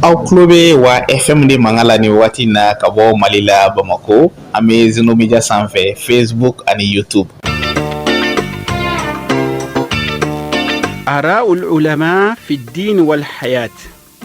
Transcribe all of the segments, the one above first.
aw tulo bɛ wa fm de mankan la nin waati in na ka bɔ mali la bamakɔ an bɛ zeno media sanfɛ facebook ani youtube araul ulama fi din wal hayat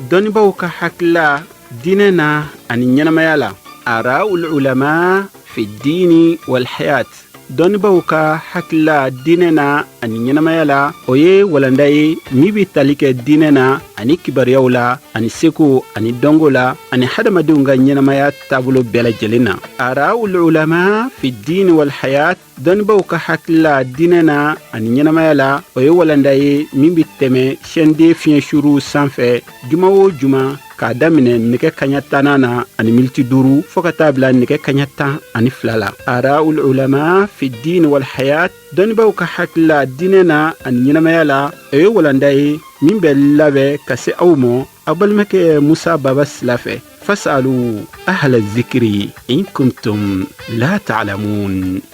dɔnnibaw ka hakilila diinɛ na ani ɲɛnamaya la araul ulama fi din wal hayat dɔnnibaw ka hakilila diinɛ na ani ɲɛnamaya la o ye walanda ye min bɛ tali kɛ diinɛ na ani kibaruyaw la ani seko ani dɔnko la ani hadamadenw ka ɲɛnamaya taabolo bɛɛ lajɛlen na araul ulama fi diini walhayat dɔnnibaw ka hakilila diinɛ na ani ɲɛnamaya la o ye walanda ye min bɛ tɛmɛ sɛnden fiɲɛ suru sanfɛ juma o juma k'a daminɛ nɛgɛ kaɲa tan na ani miniti duuru fo ka taa bila nɛgɛ kaɲa tan ani fila la araul ulama fi diini walhayat dɔnnibaw ka hakilila diinɛ na ani ɲɛnamaya la o ye walanda ye min bɛ labɛn ka se aw ma aw balimakɛ musa baba sila fɛ fasalu ahla zikri in kuntum la talamun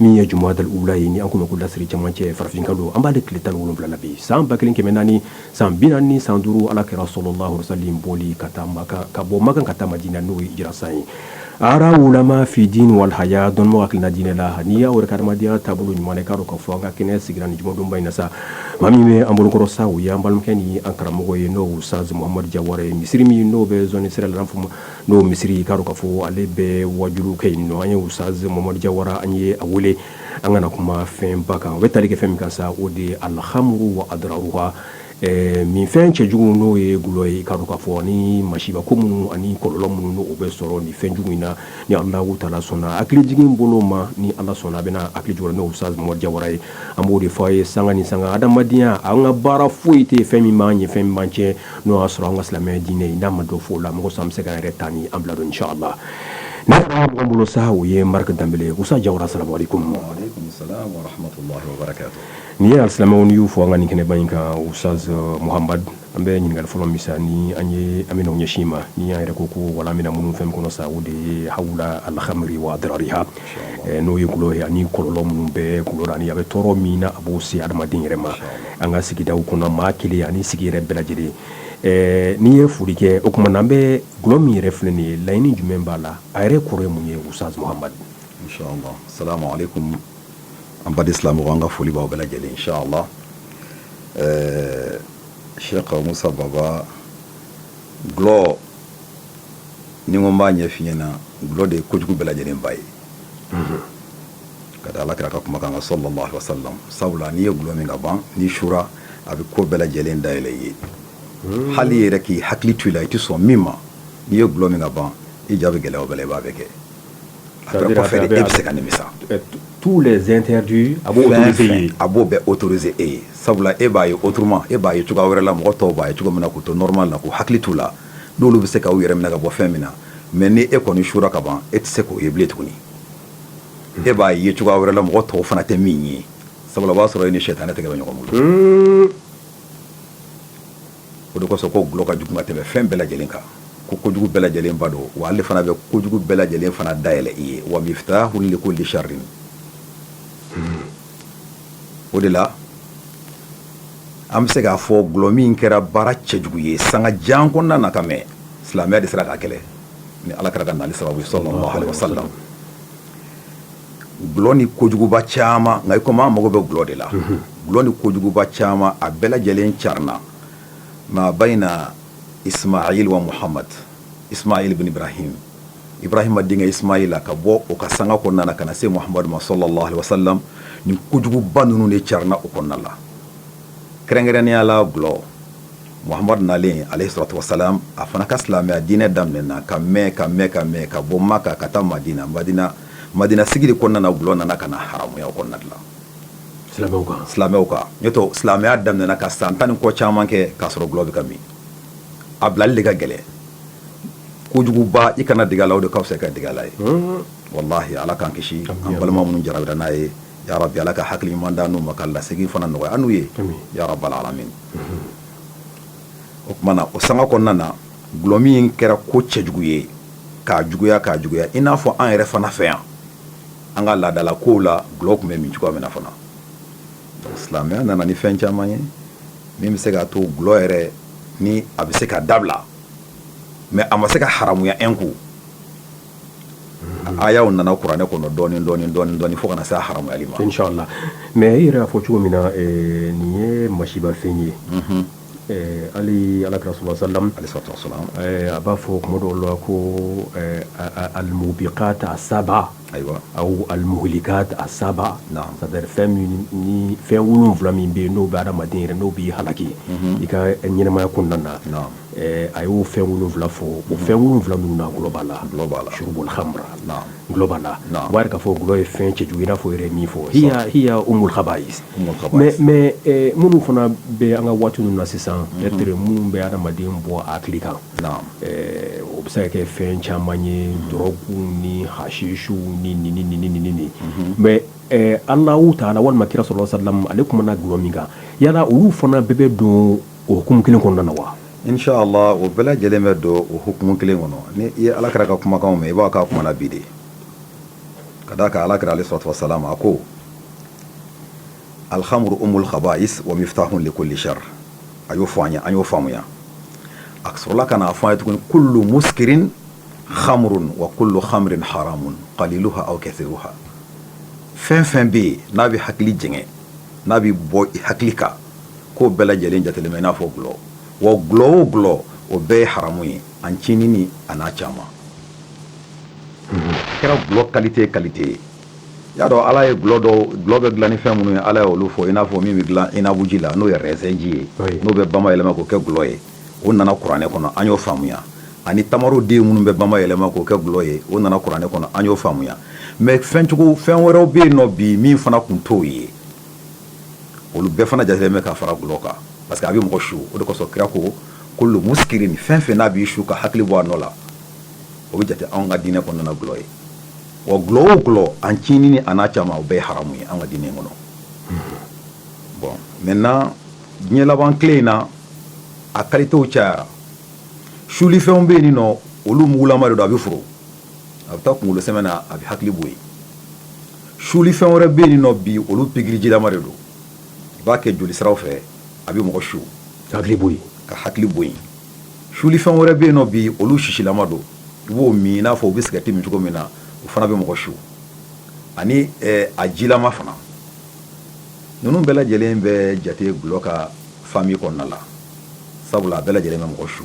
min ye jumada ula ye ni an tun ko lasiri cɛmancɛ farafin kalo an b'ale tile tan ni wolonwula la bi san ba kelen kɛmɛ naani san bi naani ni san duuru ala ka rasulullah sallam boli ka taa ka bɔ makan ka taa madina n'o ye hijira san ye araul ulama fi din wal hayat dɔnniba hakilina diinɛ la ani a yɛrɛ ka hadamadenya taabolo ɲuman i k'a dɔn k'a fɔ an ka kɛnɛ sigira ni jumadonba in na sa maa min bɛ an bolokɔrɔ sa o ye an balimakɛ ni an karamɔgɔ ye n'o ustaz muhamad jawara ye misiri min n'o bɛ sira la fɔ ma n'o misiri i k'a dɔn k'a fɔ ale bɛ waajuli kɛ yen n'o an ye ustaz muhamad jawara an ye a wele an ka na kuma fɛnba kan o bɛ tali kɛ fɛn min kan sa o de ye alkhamru wa adraruha nin fɛn cɛjugu n'o ye glɔ ye i k'a dɔn k'a fɔ ani masiba ko minnu ani kɔlɔlɔ minnu n'o bɛ sɔrɔ nin fɛn jugu in na ni ala taala sɔnna hakili jigin bolo ma ni ala sɔnna a bɛna an hakili jigin n'o ustaz muhamad jawara ye an b'o de fɔ a ye sanga ni sanga hadamadenya an ka baara foyi tɛ fɛn min man ɲi fɛn man cɛ n'o y'a sɔrɔ an ka silamɛya diinɛ in n'a ma dɔ fɔ o la mɔgɔ sa bɛ se ka yɛrɛ tan ni an bila don inshallah n'a taara mɔgɔ bolo sa o ye marika danbele ustaz jawara salamu alaikum n'i ye silamɛw y'u fo an ka nin kɛnɛba in kan ustaz muhamadu an bɛ ɲininkali fɔlɔ min sa ni an ye an bɛna ɲɛsin i ma ni y'a yɛrɛ ko ko walanda in bɛna munun fɛn kɔnɔ sa o de ye hawla alkhamri wa adrariha n'o ye glɔ ye ani kɔlɔlɔ minnu bɛ glɔ la ani a bɛ tɔɔrɔ min n'a b'o se hadamaden yɛrɛ ma an ka sigida kɔnɔ maa kelen ani sigi yɛrɛ bɛɛ lajɛlen ɛɛ n'i ye foli kɛ o tuma na an bɛ dɔlɔ min yɛrɛ filɛ nin ye laɲini jumɛn b'a la a yɛrɛ kɔrɔ ye mun ye sa ustaz muhamad inshallah asalamu alaikum an baden silamɛw an ka foli b'aw bɛɛ lajɛlen ye inshallah sheki musa baba dulɔ nin ko n b'a ɲɛfɔ i ɲɛ na dulɔ de ye kojugu bɛɛ lajɛlen ba ye Ka da alakira ka kuma kan sallallahu alayhi wasallam sabula n'i ye gulɔ min ka ban n'i sura a bɛ ko bɛɛ lajɛlen da yɛlɛ i ye hali i yɛrɛ k'i hakili to i la i tɛ sɔn min ma n'i ye gulɔ min ka ban i ja bɛ gɛlɛya o bɛɛ la i b'a bɛɛ kɛ tous les interdits a b'o bɛɛ autoriser e ye sabula e b'a ye autrement e b'a ye cogoya wɛrɛ la mɔgɔ tɔw b'a ye cogo min na k'u to normal la k'u hakili to u la n'olu bɛ se k'u yɛrɛ minɛ ka bɔ fɛn min na mais ni e kɔni sura ka ban e tɛ se k'o ye bilen tuguni e b'a ye cogoya wɛrɛ la mɔgɔ tɔw fana tɛ min ye sabula o b'a sɔrɔ e ni sitanɛ tɛgɛ bɛ ɲɔgɔn bolo, hunn, o de kosɔn ko gulɔ ka jugu ka tɛmɛ fɛn bɛɛ lajɛlen kan ko kojugu bɛɛ lajɛlen ba don wa ale fana bɛ kojugu bɛɛ lajɛlen fana dayɛlɛ i ye wa miftahun likulli sharrin o de la an bɛ se k'a fɔ gulɔ min kɛra baara cɛjugu ye sanga jan kɔnɔna na ka mɛn silamɛya de sera k'a kɛlɛ ni alakira ka nali sababu sallallahu alayhi wasallam gulɔ ni kojuguba caman nka ikomi an mago bɛ gulɔ de la gulɔ ni kojuguba caman a bɛɛ lajɛlen carina ma baina ismail wa muhamadu ismail bin ibrahim ibrahima denkɛ ismaila ka bɔ o ka sanga kɔnɔna na ka na se muhamadu ma sallallahu alayhi wasallam nin kojuguba ninnu de carina o kɔnɔna la kɛrɛnkɛrɛnnenya la gulɔ Muhamadu nalen alayhi salatu wasallam a fana ka silamɛya diinɛ daminɛna ka mɛn ka mɛn ka mɛn ka bɔ makan ka taa madina madina sigi de kɔnɔna na gulɔ nana ka na haramuya o kɔnɔna de la silamɛw kan n'o tɛ silamɛya daminɛna ka san tan ni kɔ caman kɛ k'a sɔrɔ gulɔ bɛ ka min a bilali de ka gɛlɛn kojuguba i kana dege a la o de ka fisa ka dege a la ye wallahi ala k'an kisi an balima minnu jarabira n'a ye ya rabbi ala ka hakili ɲuman d'an n'u ma ka lasegin fana nɔgɔya an n'u ye ya rabbal alamin o tuma na o sanga kɔnɔna na gulɔ min kɛra ko cɛjugu ye ka juguya ka juguya i n'a fɔ an yɛrɛ fana fɛ yan an ka laadala kow la gulɔ tun bɛ min cogoya min na fana silamɛya nana ni fɛn caman ye min bɛ se k'a to gulɔ yɛrɛ ni a bɛ se ka dabila mais a ma se ka haramuya un coup ayaw nana kuranɛ kɔnɔ dɔɔnin dɔɔnin dɔɔnin dɔɔnin fo ka na se a haramuyali ma inchallah la mais i yɛrɛ y'a fɔ cogo min na eh, nin ye masibafɛn ye mhm. eh, hali alakira sallallahu alayhi wasallam eh, a b'a fɔ kuma dɔw la ko almubiqat asaba ayiwa aw almuhlikat asaba c'est à dire fɛn min ni fɛn wolonwula min bɛ yen n'o bɛ adamaden yɛrɛ n'o b'i halaki mhm. i ka ɲɛnamaya kɔnɔna na a y'o fɛn wolonwula fɔ o fɛn wolonwula ninnu na gulɔ b'a la shurubul khamr gulɔ b'a la o b'a yira k'a fɔ gulɔ ye fɛn cɛjugu i n'a fɔ yɛrɛ min fɔ hiya umul khabais mais minnu fana bɛ an ka waati ninnu na sisan peut-être minnu bɛ adamaden bɔ a hakili kan o bɛ se ka kɛ fɛn caman ye dɔrɔgu ni hashishu ni ni mais Allahu ta'ala walima kira sallallahu alayhi wa sallam ale kumana gulɔ min kan yala olu fana bɛɛ bɛ don o hukumu kelen kɔnɔna na wa? In sha Allah o bɛɛ lajɛlen bɛ don o hukumu kelen kɔnɔ. Ni i ye Alakira ka kumakanw mɛn, i b'a k'a kumana bi de. Ka d'a kan Alakira alayhi salatu wa salam a ko, Alkhamru umul khabais wa miftahun li kulli shar a y'o fɔ an ye, an y'o faamuya. A sɔrɔla ka n'a fɔ an ye tuguni kullu muskirin khamrun wa kullu khamrin haramun qaliluha aw kathiruha. Fɛn fɛn bɛ yen n'a bɛ hakili jɛngɛ, n'a b'i bɔ i hakili kan k'o bɛɛ lajɛlen jatelen bɛ i n'a fɔ gulɔ wa gulɔ o gulɔ o bɛɛ ye haramu ye a ncinin an'a caman kɛra gulɔ kalite kalite ye y'a dɔn ala ye gulɔ dɔ gulɔ bɛ dilan ni fɛn minnu ye ala ye olu fɔ i n'a fɔ min bɛ dilan inabuji la n'o ye rɛzɛnji ye n'o bɛ bamayɛlɛma k'o kɛ gulɔ ye o nana kuranɛ kɔnɔ an y'o faamuya ani tamaroden minnu bɛ bamayɛlɛma k'o kɛ gulɔ ye o nana kuranɛ kɔnɔ an y'o faamuya mais fɛn fɛn wɛrɛw bɛ yen nɔ bi min fana tun t'o ye olu bɛɛ fana jatelen bɛ ka fara gulɔ kan parce que a bɛ mɔgɔ su o de kosɔn kira ko kullu muskirin fɛn fɛn n'a b'i su ka hakili bɔ a nɔ la o bɛ jate anw ka diinɛ kɔnɔna gulɔ ye wa gulɔ o gulɔ a ncinin an'a caman o bɛɛ ye haramu ye an ka diinɛ kɔnɔ bon maintenant diɲɛ laban tile in na a kalitew cayara sulifɛnw bɛ yen nin nɔ olu mugulama de don a bɛ foron a bɛ taa kunkolo sɛmɛ na a bɛ hakili bɔ yen sulifɛn wɛrɛ bɛ yen nɔ bi olu pikirijilama de don i b'a kɛ joli siraw fɛ a bɛ mɔgɔ su hakili bɔ ka hakili bɔ yen sulifɛn wɛrɛ bɛ yen nɔ bi olu sisilama don i b'o min i n'a fɔ u bɛ sigarɛti min cogo min na o fana bɛ mɔgɔ su ani eh, a jilama fana ninnu bɛɛ lajɛlen bɛ jate gulɔ ka famille kɔnɔna la sabula a bɛɛ lajɛlen bɛ mɔgɔ su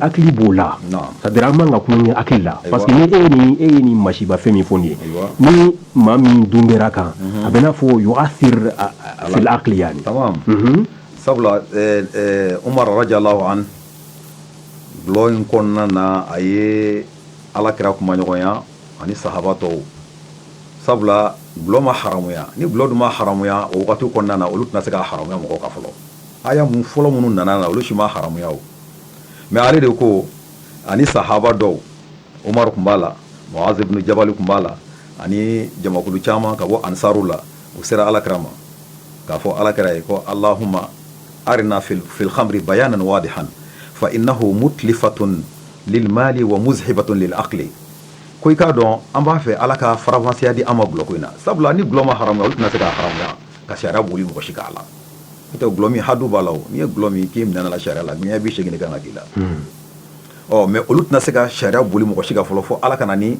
hakili b'o la c'est-à-dire an man ka tulonkɛ hakili la parce que ni e ye nin masiba fɛn min fɔ nin ye ni maa min dun kɛra kan a bɛna a fɔ yu'athir fil aqli yani sabula Umar radiyallahu an dulɔ in kɔnɔna na a ye alakira kumaɲɔgɔnya ani sahaba tɔw sabula dulɔ ma haramuya ni dulɔ dun ma haramuya o waati kɔnɔna na olu tɛna se ka haramuya mɔgɔ kan fɔlɔ aya mun fɔlɔ minnu nana na olu si ma haramuya mɛ ale de ko ani sahaba dɔw omari tun b'a la muaz ibn jabali tun b'a la ani jamakulu caman ka bɔ ansariw la u sera alakira ma k'a fɔ alakira ye ko allahumma arina fil khamri bayanan wadihan fa innahu mutlifatun lil mali wa muzhibatun lil aqli ko i k'a dɔn an b'a fɛ ala ka faranfasiya di an ma dulɔ in na sabula ni dulɔ ma haramuya olu tɛna se ka haramuya ka sariya boli mɔgɔ si k'a la O tɛ dulɔ min hadu b'a la n'i ye dulɔ min k'i minɛ sariya la ni bi seegin kan ka k'i la ɔ mɛ olu tɛna se ka sariya boli mɔgɔ si kan fɔlɔ fɔ ala ka na ni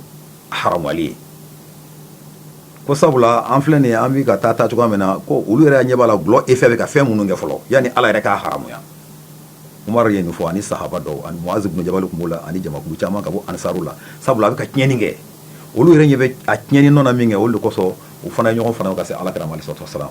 haramuyali ye ko sabula an filɛ nin an bɛ ka taa ta cogoya min na ko olu yɛrɛ ɲɛ b'a la dulɔ effet bɛ ka fɛn minnu kɛ fɔlɔ yanni ala yɛrɛ k'a haramuya omari ye nin fɔ ani sahaba dɔw ani muaz ibn jabali tun b'o la ani jamakulu caman ka bɔ ansaru la sabula a bɛ ka tiɲɛni kɛ olu yɛrɛ ɲɛ bɛ a tiɲɛni nɔ na min kɛ olu de kosɔn u fana ye ɲɔgɔn fana ka se alakira alayhi salatu wasalam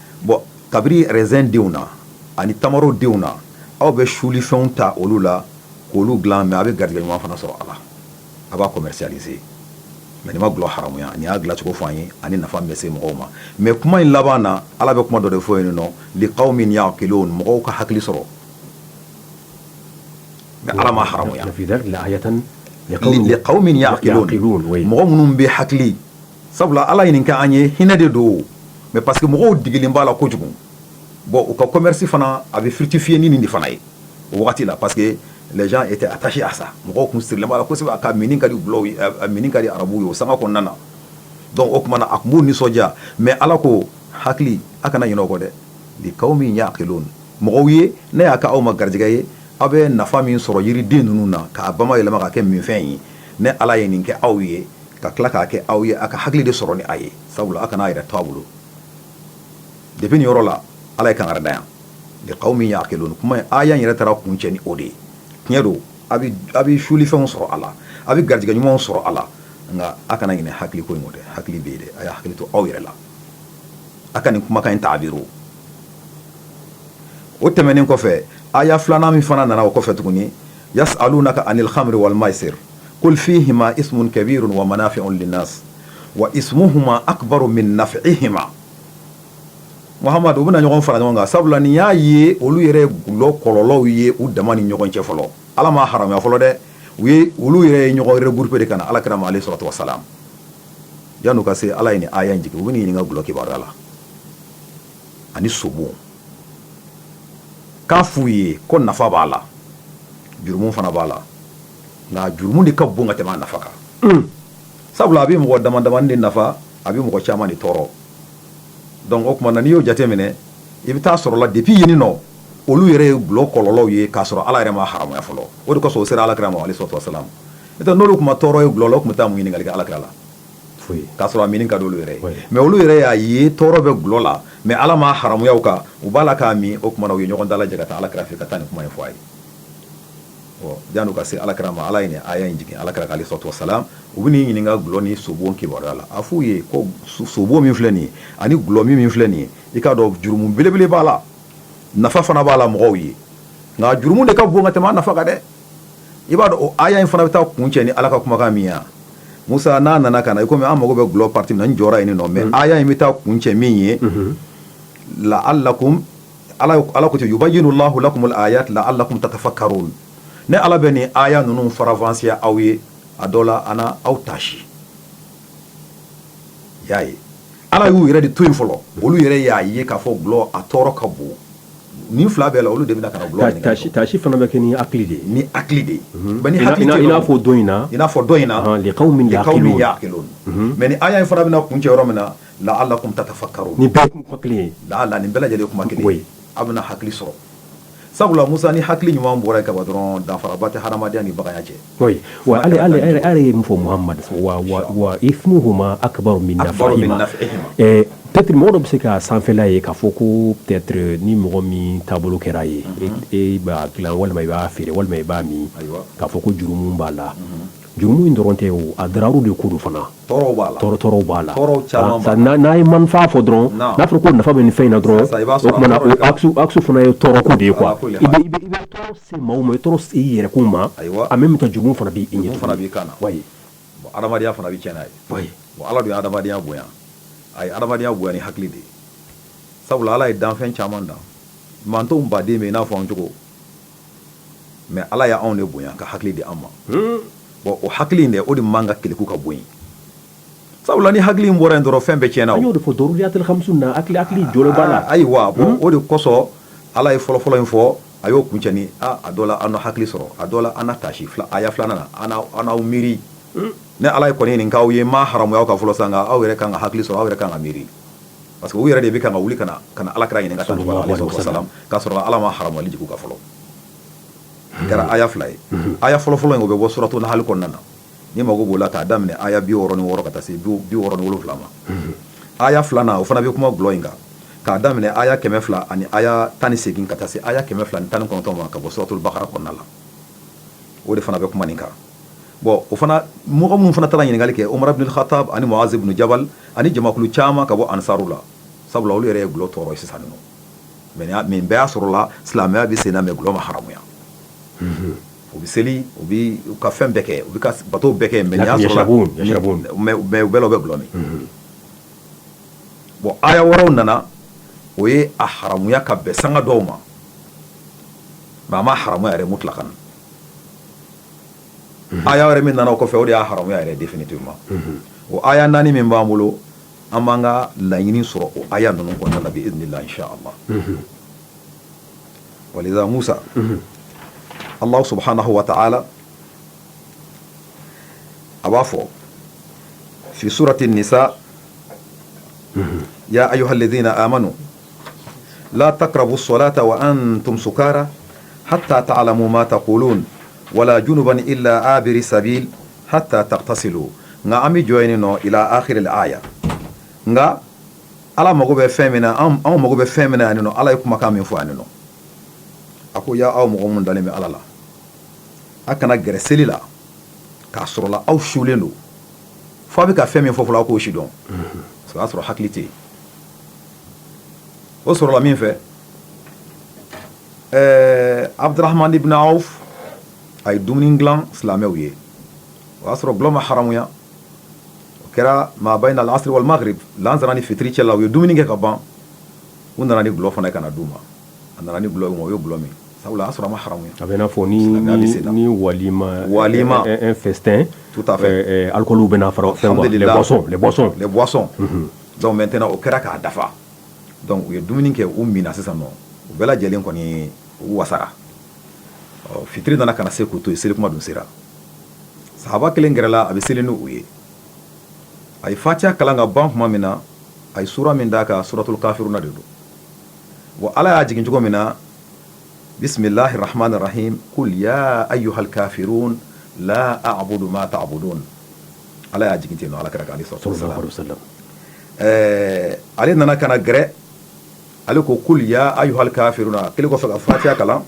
bɔn ka bɔ rezɛn denw na ani tamaro denw na aw bɛ sulifɛnw ta olu la k'olu dilan mɛ a bɛ garijɛgɛ ɲuman fana sɔrɔ a la a b'a commercialiser mɛ nin ma gulɔ haramuya nin y'a dilancogo fɔ an ye ani nafa min bɛ se mɔgɔw ma mɛ kuma in laban na ala bɛ kuma dɔ de fɔ yen nɔ liqawmin ya'qilun o mɔgɔw ka hakili sɔrɔ mɛ ala ma haramuya liqawmin ya'qilun mɔgɔ minnu bɛ hakili sabula ala ye nin kɛ an ye hinɛ de don mɛ parce que mɔgɔw degelen b'a la kojugu bɔn u ka commerce fana a bɛ fructifier ni nin de fana ye o waati wagati la parce que les gens étaient attachés à ça mɔgɔw tun sirilen b'a la kosɛbɛ a ka minni ka minni ka di arabuw ye o sanga kɔnɔna na dɔnku o tuma na a tun b'u nisɔndiya mɛ ala ko hakili a kana ɲinɛ o kɔ dɛ liqawmin ya'qilun mɔgɔw ye ne y'a kɛ aw ma garijɛgɛ ye aw bɛ nafa min sɔrɔ yiriden ninnu na k'a bayɛlɛma ka kɛ minfɛn ye ne ala ye nin kɛ aw ye ka tila k'a kɛ aw ye a ka hakili de sɔrɔ ni a ye sabula a kana a yɛrɛ to a bolo depuis nin yɔrɔ la ala ye kankari da yan liqawmin ya'qilun kuma aya yɛrɛ taara kuncɛ ni o de ye tiɲɛ don a bɛ suli fɛnw sɔrɔ a la a bɛ garijɛgɛ ɲumanw sɔrɔ a la nka a kana ɲinɛ hakili ko in kɔ dɛ hakili bɛ yen dɛ a y'a hakili to aw yɛrɛ la a ka nin kumakan in ta a bolo o tɛmɛnen kɔfɛ aya filanan min fana nana o kɔfɛ tuguni yas'alunaka anil khamri wal maisir qul fihima ismun kabirun wa manafi'u linnasi wa ismuhuma akbaru min naf'ihima mamadu u bɛna ɲɔgɔn fara ɲɔgɔn kan sabula nin y'a ye olu yɛrɛ gulɔ kɔlɔlɔw ye u dama ni ɲɔgɔn cɛ fɔlɔ ala ma haramuya fɔlɔ dɛ u ye olu yɛrɛ ye ɲɔgɔn regrouper de ka na alakira ma alayhi salatu wasalam yan'u ka se ala ye nin aya in jigin u b'i ɲininka gulɔ kibaruya la ani sobo k'a f'u ye ko nafa b'a la jurumu fana b'a la nka jurumu de ka bon ka tɛmɛ a nafa kan sabula a bɛ mɔgɔ dama damani de nafa a bɛ mɔgɔ caman de tɔɔrɔ donc o tuma na n'i y'o jateminɛ i bɛ t'a sɔrɔ la depuis yen nɔ olu yɛrɛ ye gulɔ kɔlɔlɔw ye k'a sɔrɔ Ala yɛrɛ m'a haramuya fɔlɔ o de kosɔn o sera Alakira ma aleyihi salatu wa salam n'o tɛ n'olu tun ma tɔɔrɔ ye gulɔ la u tun bɛ taa mun ɲininkali kɛ Alakira la foyi k'a sɔrɔ a minni ka d'olu yɛrɛ ye mais olu yɛrɛ y'a ye tɔɔrɔ bɛ gulɔ la mais Ala m'a haramuya u kan u b'a la k'a min o tuma na u ye ɲɔgɔn dalajɛ ka taa Alakira fɛ ka taa nin kuma in fɔ a ye ɔ janni u ka se alakira ma ala ye nin aya in jigin alakira kan aleyihi salatu wasalam u bɛ n'i ɲininka gulɔ ni sobon kibaruya la a f'u ye ko sobon min filɛ nin ye ani gulɔ min min filɛ nin ye i k'a dɔn jurumu belebele b'a la nafa fana b'a la mɔgɔw ye nka jurumu de ka bon ka tɛmɛ a nafa kan dɛ i b'a dɔn o aya in fana bɛ taa kuncɛ ni ala ka kumakan min ye musa n'a nana ka na i komi an mago bɛ gulɔ partie min na n jɔra yen nɔ mais mm-hmm. aya in bɛ taa kuncɛ min ye mm-hmm. la'allakum ala ala ko yubayyinu lahu lakum al ayati la'allakum tatafakkarun ne ala bɛ nin aya ninnu faranfasiya aw ye a dɔ la a n'aw taasi y'a ye ala y'u yɛrɛ de to yen fɔlɔ olu yɛrɛ y'a ye k'a fɔ gulɔ a tɔɔrɔ ka bon nin fila bɛɛ la olu de bɛna ka na gulɔ ɲininka taasi fana bɛ kɛ ni hakili de ye ni hakili de ye ni hakili i n'a fɔ dɔ in na i n'a fɔ dɔ in na liqawmin ya'qilun mais nin aya in fana bɛna kuncɛ yɔrɔ min na la'allakum tatafakkarun nin bɛɛ kuma kelen ye la'alla nin bɛɛ lajɛlen kuma kelen ye a bɛna hakili sɔrɔ sabula musa ni hakili ɲuman bɔra yen kaban dɔrɔn danfaraba tɛ hadamadenya ni baganya cɛ koyi wa ale ale ale ale ye min fɔ muhammad wa wa wa ismuhuma akbaru min akbaru min nafihima nafihima ɛɛ peut-être mɔgɔ dɔ bɛ se ka sanfɛla ye k'a fɔ ko peut-être ni mɔgɔ min taabolo kɛr'a ye e e b'a dilan walima i b'a feere walima i b'a min ayiwa k'a fɔ ko jurumu b'a la Jurumu in dɔrɔn tɛ o a dararu de ko don fana tɔɔrɔw b'a la tɔɔrɔw b'a la n'a ye manfa fɔ dɔrɔn n'a fɔra ko nafa bɛ nin fɛn in na dɔrɔn axe fana ye tɔɔrɔko de ye quoi i bɛ tɔɔrɔ se maaw ma i tɔɔrɔ se i yɛrɛkun ma en même temps jurumu fana b'i ɲɛ fana b'i kan bon adamadenya fana bɛ cɛn n'a ye ala de ye adamadenya bonya a ye adamadenya bonya ni hakili de ye sabula ala ye danfɛn caman dan mantonw baden min n'a fɔ an cogo mais ala y'anw de bonya ka hakili di an ma bon o hakili in de o de man kan ka keleku ka bɔ yen sabula ni hakili in bɔra yen dɔrɔn fɛn bɛɛ tiɲɛna an y'o de fɔ daruriyatul khamsu na hakili jɔlen b'a la ayiwa o de kosɔn ala ye fɔlɔfɔlɔ in fɔ a y'o kuncɛ ni a dɔ la a na hakili sɔrɔ a dɔ la a na taasi aya filanan na a n'aw miiri ne ala ye kɔni nin k'aw ye m'a haramuya aw kan fɔlɔ sa aw yɛrɛ ka kan ka hakili sɔrɔ aw yɛrɛ ka kan ka miiri parce que u yɛrɛ de bɛ kan ka wuli ka na ka na alakira ɲininka tan n'u ka Salalahu alaihi wasalam. wasalam, k'a sɔrɔ ala ma haramuyali jigin u kan fɔlɔ nin kɛra aya fila ye aya fɔlɔfɔlɔ in o bɛ bɔ suratu nahali kɔnɔna na n'i mago b'o la k'a daminɛ aya bi wɔɔrɔ ni wɔɔrɔ ka taa se bi bi wɔɔrɔ ni wolonwula ma aya filanan o fana bɛ kuma gulɔ in kan k'a daminɛ aya kɛmɛ fila ani aya tan ni segin ka taa se aya kɛmɛ fila ni tan ni kɔnɔntɔn ma ka bɔ suratul bakara kɔnɔna la o de fana bɛ kuma nin kan bon o fana mɔgɔ minnu fana taara ɲininkali kɛ Umar ibunul Hatab ani Muaz ibun Jabal ani jamakulu caman ka bɔ ansaru la sabula olu yɛrɛ ye gulɔ tɔɔrɔ sisan nɔ mais bɛɛ y'a sɔrɔ la silamɛya bɛ sen na mais gulɔ ma haramuya u bɛ seli u b'u ka fɛn bɛɛ kɛ u ka bato bɛɛ kɛ mais y'a sɔrɔ u bɛɛ bɛ gulɔ min bon aya wɛrɛw nana o ye a haramuya ka bɛn sanga dɔw ma mais a ma haramuya yɛrɛ mutlakan aya wɛrɛ min nana o kɔfɛ o de y'a haramuya yɛrɛ définitivement o aya naani min b'an bolo an b'an ka laɲini sɔrɔ o aya ninnu kɔnɔna na bi izinilah insha allah wa liza masa allah subhanahu wa ta'ala a b'a fɔ fi surati nisa ya ayuha alladhina amanu la takrabu salata wa antum sukara hata taalamu ma takulun wala junuban ila abiri sabil hata tagtasilu nka an bɛ jɔ yen nɔ ila ahiril aya nka ala mago bɛ fɛn min na anw mago bɛ fɛn min na yan nɔ ala ye kumakan min fɔ yan nɔ a ko ya aw mɔgɔ minnu dalen bɛ ala la a kana gɛrɛ seli la k'a sɔrɔla aw sulen don fo a bɛ ka fɛn min fɔ fo a k'o sidɔn o y'a sɔrɔ hakili tɛ yen o sɔrɔla min fɛ ɛɛ abudurahamani ibun awf a ye dumuni gilan silamɛw ye o y'a sɔrɔ gulɔ ma haramuya o kɛra ma bayna lasiri wal magarib lansara ni fitiri cɛ la u ye dumuni kɛ ka ban u nana ni gulɔ fana ye ka na d'u ma a nana ni gulɔ ye u ye gulɔ min sabula o y'a sɔrɔ a ma haramuya a bɛ i n'a fɔ ni Silamɛya bɛ sen na. ni walima Walima. un- un festin Tout à fait. euh, euh, alcool bɛna fara fɛn kan, les Alhamdulillah. boissons les boissons les boissons Donc maintenant o kɛra k'a dafa donc u ye dumuni kɛ u minna sisan nɔ u bɛɛ lajɛlen kɔni u wasara ɔ fitiri nana ka na se k'u to yen seli kuma dun sera sahaba kelen gɛrɛla a bɛ seli n'u ye a ye fatiha kalan ka ban tuma min na a ye sura min d'a kan suratul kafiruna de don wa ala y'a jigin cogo min na bisimilahi rahamani rahim kul ya ayuhal kafirun la abudu ma tabudun Ala y'a jigin ten nɔ alakira kan alayhi salatu wasalam ɛɛ ale nana ka na gɛrɛ ale ko kul ya ayuhal kafiruna kelen kɔfɛ ka fatiya kalan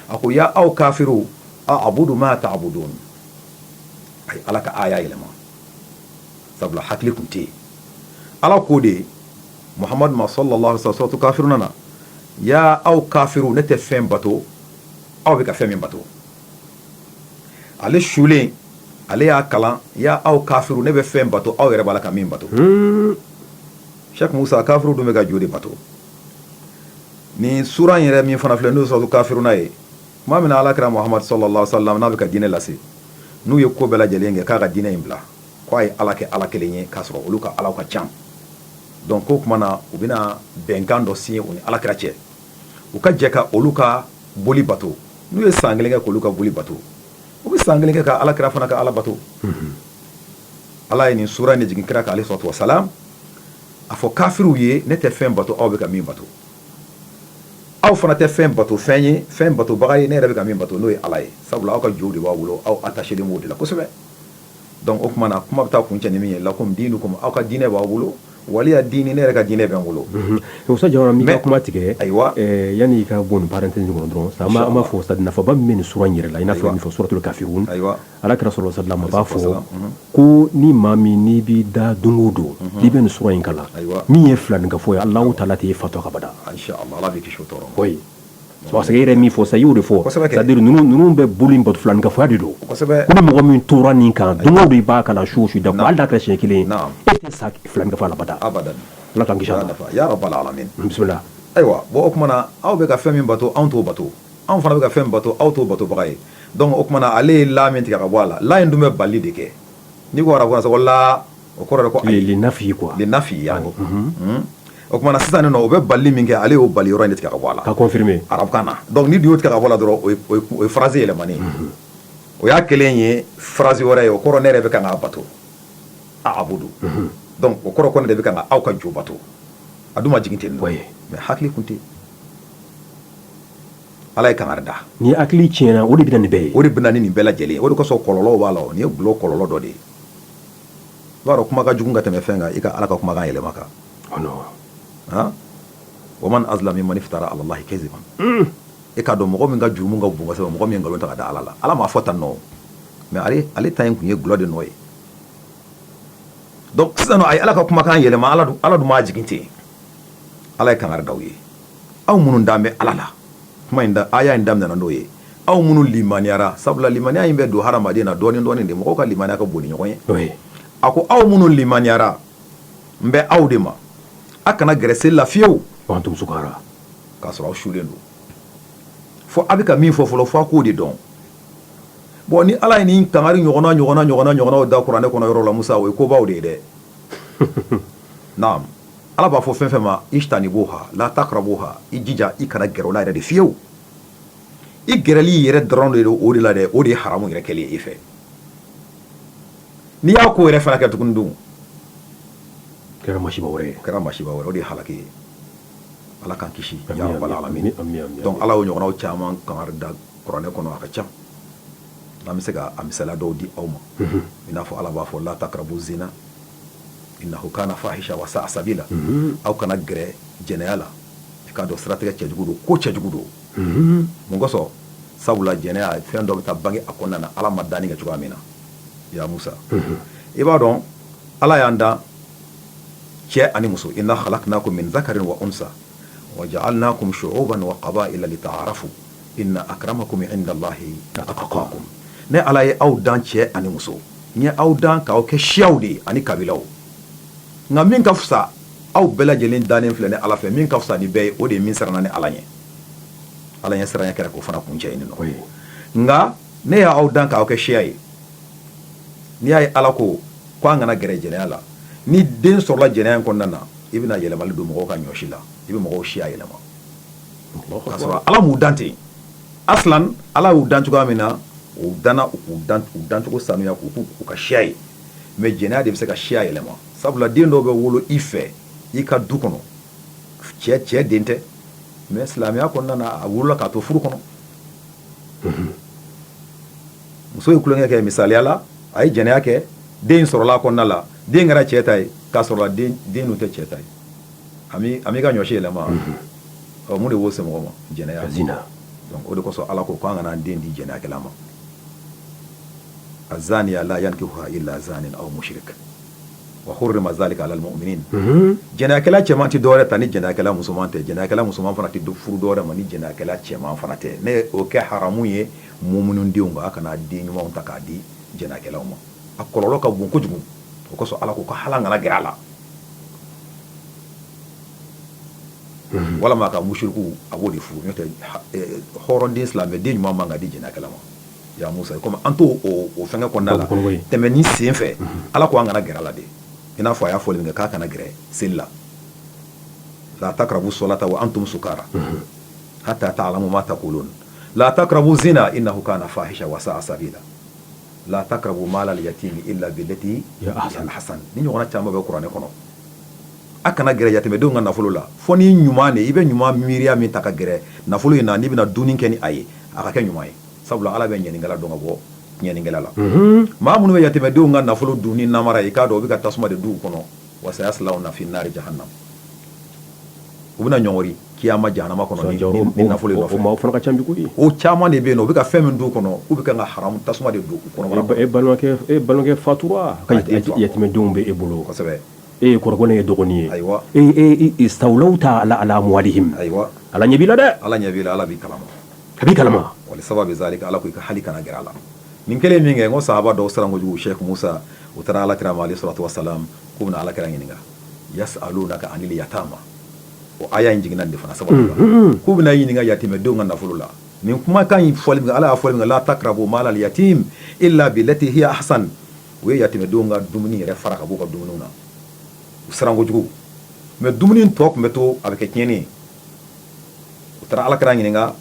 a ko ya aw kafiru abudu ma tabuduna a ye ala ka aya yɛlɛma sabula hakili tun tɛ yen ala ko de mahamadu ma salalahu alayhi wasalam suratu kafiruna na ya aw kafiru ne tɛ fɛn bato aw bɛ ka fɛn min bato ale sulen ale y'a kalan ya aw kafiru ne bɛ fɛn bato aw yɛrɛ b'a la ka min bato sa kafiru dun bɛ ka jo de bato nin sura in yɛrɛ min fana filɛ n'o ye suratul kafiruna ye tuma min na alakira mahamadu salalahu alayhi wasalam n'a bɛ ka diinɛ lase n'u ye ko bɛɛ lajɛlen kɛ k'a ka diinɛ in bila k'a ye ala kɛ ala kelen ye k'a sɔrɔ olu ka alaw ka ca donc o tuma na u bɛna bɛnkan dɔ signé u ni alakira cɛ u ka jɛ ka olu ka boli bato n'u ye san kelen kɛ k'olu ka boli bato u bɛ san kelen kɛ ka alakira fana ka ala bato ala ye nin sura in de jigin kira kan alayhi salatu wasalam a fɔ kafiriw ye ne tɛ fɛn bato aw bɛ ka min bato aw fana tɛ fɛn bato fɛn ye fɛn batobaga ye ne yɛrɛ bɛ ka min bato n'o ye ala ye sabula aw ka jow de b'aw bolo aw attachélen b'o de la kosɛbɛ donc o tuma na kuma bɛ taa kuncɛ ni min ye lakum diinukum aw ka diinɛ b'aw bolo waliya diini ne yɛrɛ ka diinɛ bɛ n bolo Jawara n b'i ka kuma tigɛ ayiwa yani i ka bɔ nin parenthèse kɔnɔ dɔrɔn sa n b'a fɔ sa nafaba min bɛ sura in yɛrɛ la i n'a fɔ suratul kafiruna ayiwa alakira salalahu alayhi wasalam b'a fɔ ko ni maa min n'i b'i da don o don i bɛ nin sura in kalan ayiwa min ye filaninkafo ye ala taala tɛn'i fatu o kan bada yɛrɛ min fɔ sa i y'o de fɔ ninnu bɛ boli bato filankafoya de don ni mɔgɔ min tora nin kan don o don i b'a kalan su o su da hali n'a kɛra siɲɛ kelen e tɛ sa filankafo la bada ala ayiwa o tuma na aw bɛ ka fɛn min bato anw t'o bato anw fana bɛ ka fɛn bato aw t'o batobaga ye o tuma na ale ye la min tigɛ ka bɔ a la la in dun bɛ bali de kɛ ni arabu sa ko la o kɔrɔ ko ayi linafi quoi linafi yani o tuma na sisan o bɛ bali min kɛ ale y'o bali yɔrɔ tigɛ ka bɔ a la ka confirmer arabukan na donc n'i y'o tigɛ ka bɔ a la dɔrɔn o ye phrase yɛlɛmani o y'a kɛlen ye phrase wɛrɛ ye o kɔrɔ ne yɛrɛ bɛ k'a bato abudu o kɔrɔ ko ne de bɛ ka aw ka jo bato a dun ma jigin ten nɔ mais hakili tun tɛ ala ye kangari da ni hakili tiɲɛna o de bɛ na nin bɛɛ ye o de bɛ na ni nin bɛɛ lajɛlen o de kosɔn kɔlɔlɔw b'a la o ye glɔ kɔlɔlɔ dɔ de ye b'a dɔn kuma ka jugu ka tɛmɛ fɛn kan i ka ala ka kumakan yɛlɛma kan wa man azlamu mimman iftara alalahi kaziban e k'a dɔn mɔgɔ min ka jurumu ka bon kosɛbɛ mɔgɔ min ye nkalon ta k'a da ala la ala m'a fɔ tan nɔ mais ale ta in tun ye glɔ de nɔ ye sisan a ye ala ka kumakan yɛlɛma ala don ala dun m'a jigin ten ala ye kangari da aw ye aw minnu dan bɛ ala la kuma in da aya in daminɛna n'o ye aw minnu limaniyara sabula limaniya in bɛ don hadamaden na dɔɔnin dɔɔnin de mɔgɔw ka limaniya ka bon ni ɲɔgɔn ye n'o ye a ko aw minnu limaniyara n bɛ aw de ma a kana gɛrɛ seli la fiyewu wa antum sukara k'a sɔrɔ aw sulen don fo a bɛ ka min fɔ fɔlɔ fo a k'o de dɔn bon ni ala ye nin kangari ɲɔgɔnnaw da kuranɛ kɔnɔ yɔrɔ la musa o ye kobaw de ye dɛ naam ala b'a fɔ fɛn fɛn ma ijtanibuha la takrabuha i jija i kana gɛrɛ o la yɛrɛ de fiyewu i gɛrɛli yɛrɛ dɔrɔn de don o de la dɛ o de ye haramu yɛrɛ kɛlen ye i fɛ n'i y'a ko yɛrɛ fana kɛ tuguni dun kɛra masiba wɛrɛ ye kɛra masiba wɛrɛ o de ye halaki ye ala k'an kisi ya rabbal alamin donc ala y'o ɲɔgɔnnaw caman kangari da kuranɛ kɔnɔ a ka ca n'an bɛ se ka a misaliya dɔw di aw ma i n'a fɔ ala b'a fɔ la takrabu zina innahu kana fahisha wa sa'a sabila aw kana gɛrɛ jɛnɛya la i k'a dɔn siratigɛ cɛjugu don ko cɛjugu don mun kosɔn sabula jɛnɛya fɛn dɔ bɛ taa bange a kɔnɔna na ala ma danni kɛ cogoya min na ya musa i b'a dɔn ala y'an dan cɛ ani muso inna khalaqnakum min zakarin wa unsa wa ja'alnakum shu'uban wa qaba'ila lita'arafu Inna akramakum inda allahi atqakum ne ala ye aw dan cɛ ani muso n ye aw dan k'aw kɛ siyaw de ye ani kabilaw nka min ka fisa aw bɛɛ lajɛlen dannen filɛ ni ala fɛ min ka fisa ni bɛɛ ye o de ye min siranna ala ɲɛ ala ɲɛ siran kɛra k'o fana kuncɛ ɲini ye nka ne y'aw dan k'aw kɛ siya ye n'i y'a ye ala ko ko an kana gɛrɛ jɛnɛya la ni den sɔrɔla jɛnɛya in kɔnɔna na i bɛna yɛlɛma don mɔgɔw ka ɲɔsi la i bɛ mɔgɔw siya yɛlɛma sɔrɔ ala m'u dan ten a ala y'u dan cogoya min na u dan u dancogo sanuya k'u k'u ka siya ye mais jɛnɛya de bɛ se ka siya yɛlɛma sabula den dɔw bɛ wolo i fɛ i ka du kɔnɔ cɛ cɛ den tɛ mais silamɛya kɔnɔna a wolola k'a to furu kɔnɔ muso ye tulonkɛ kɛ misaliya la a ye jɛnɛya kɛ den sɔrɔla a kɔnɔna la den kɛra cɛ ta ye k'a sɔrɔ den tɛ cɛ ta ye a m'i ka ɲɔsi yɛlɛma ɔ mun de b'o se mɔgɔ ma jɛnɛya zina o de kosɔn ala ko k'an kana den di jɛnɛyakɛla ma azaniya la yankihuha illa zanin aw mushrik wa hurrima zalika alal muminin jɛnɛyakɛla cɛman tɛ dɔwɛrɛ ta ni jɛnɛyakɛla musoman tɛ jɛnɛyakɛla musoman fana tɛ don furu dɔwɛrɛ ma ni jɛnɛyakɛla cɛman fana tɛ ne o kɛ haramu ye muminu denw kan a kana den ɲumanw ta k'a di jɛnɛyakɛlaw ma a kɔlɔlɔ ka bon kojugu o kosɔn ala ko ka hala g a la walima ka musiriku a b'o de furu hɔrɔnden silamɛden ɲuman man ka di jɛnɛyakɛla ma ya musa kɔmi an to o fɛnkɛ kɔnɔna la tɛmɛni sen fɛ ala ko an kana gɛrɛ a la de i n'a fɔ a y'a fɔli min kɛ k'a kana gɛrɛ seli la la takrabu solata wa antum sukara hatta ta'lamu ma taqulun la takrabu zina innahu kana fahisha wa sa'a sabila la takrabu mala al-yatimi illa billati hiya ahsan ni ɲɔgɔnna caman bɛ kuranɛ kɔnɔ a kana gɛrɛ yatimɛdenw ka nafolo la fo ni ɲuman de i bɛ ɲuman miiriya min ta ka gɛrɛ nafolo in na n'i bɛna dunni kɛ ni a ye a ka kɛ ɲuman ye sabula ala bɛ ɲɛninkɛla dɔn ka bɔ tiɲɛninkɛla la maa minnu bɛ yatimɛdenw ka nafolo dun ni namara ye i k'a dɔn u bɛ ka tasuma de don u kɔnɔ wa sayaslawna fi nari jahanam u bɛna ɲɔngɔri kiyama jahanama kɔnɔ ni nafolo in nɔfɛ o fana ka ca bi koyi o caman de bɛ yen nɔ u bɛ ka fɛn min don u kɔnɔ u bɛ ka ka haramu tasuma de don u kɔnɔ e balimakɛ fatura ka yatimɛdenw bɛ e bolo kosɛbɛ e ye kɔrɔkɛ ye dɔgɔnin ye ayiwa ee istawlayta ala amwalihim ayiwa ala ɲɛ b'i la dɛ ala ɲɛ b'i la ala b'i kalama a b'i kalama wa li sababi zalika ala k' i ka hali kana gɛrɛ a la nin kɛlen minkɛ ko sahaba dɔw siran kojugu sheikh musa u taara ala kira ma alayhi salatu wasalam k'u bɛna ala kira ɲininka yasalunaka anil yatama o aya in jiginna nin de fana sababu la k'u bɛna ɲininka yatimɛdenw ka nafolo la nin kumakan in fɔli min ala y'a fɔli min la takrabu mala al-yatimi illa billati hiya ahsan u ye yatimɛdenw ka dumuni yɛrɛ fara ka b'u ka dumuni na u siran kojugu mɛ dumuni tɔ tun bɛ to a bɛ kɛ tiɲɛni ye u taara ala kira ɲininka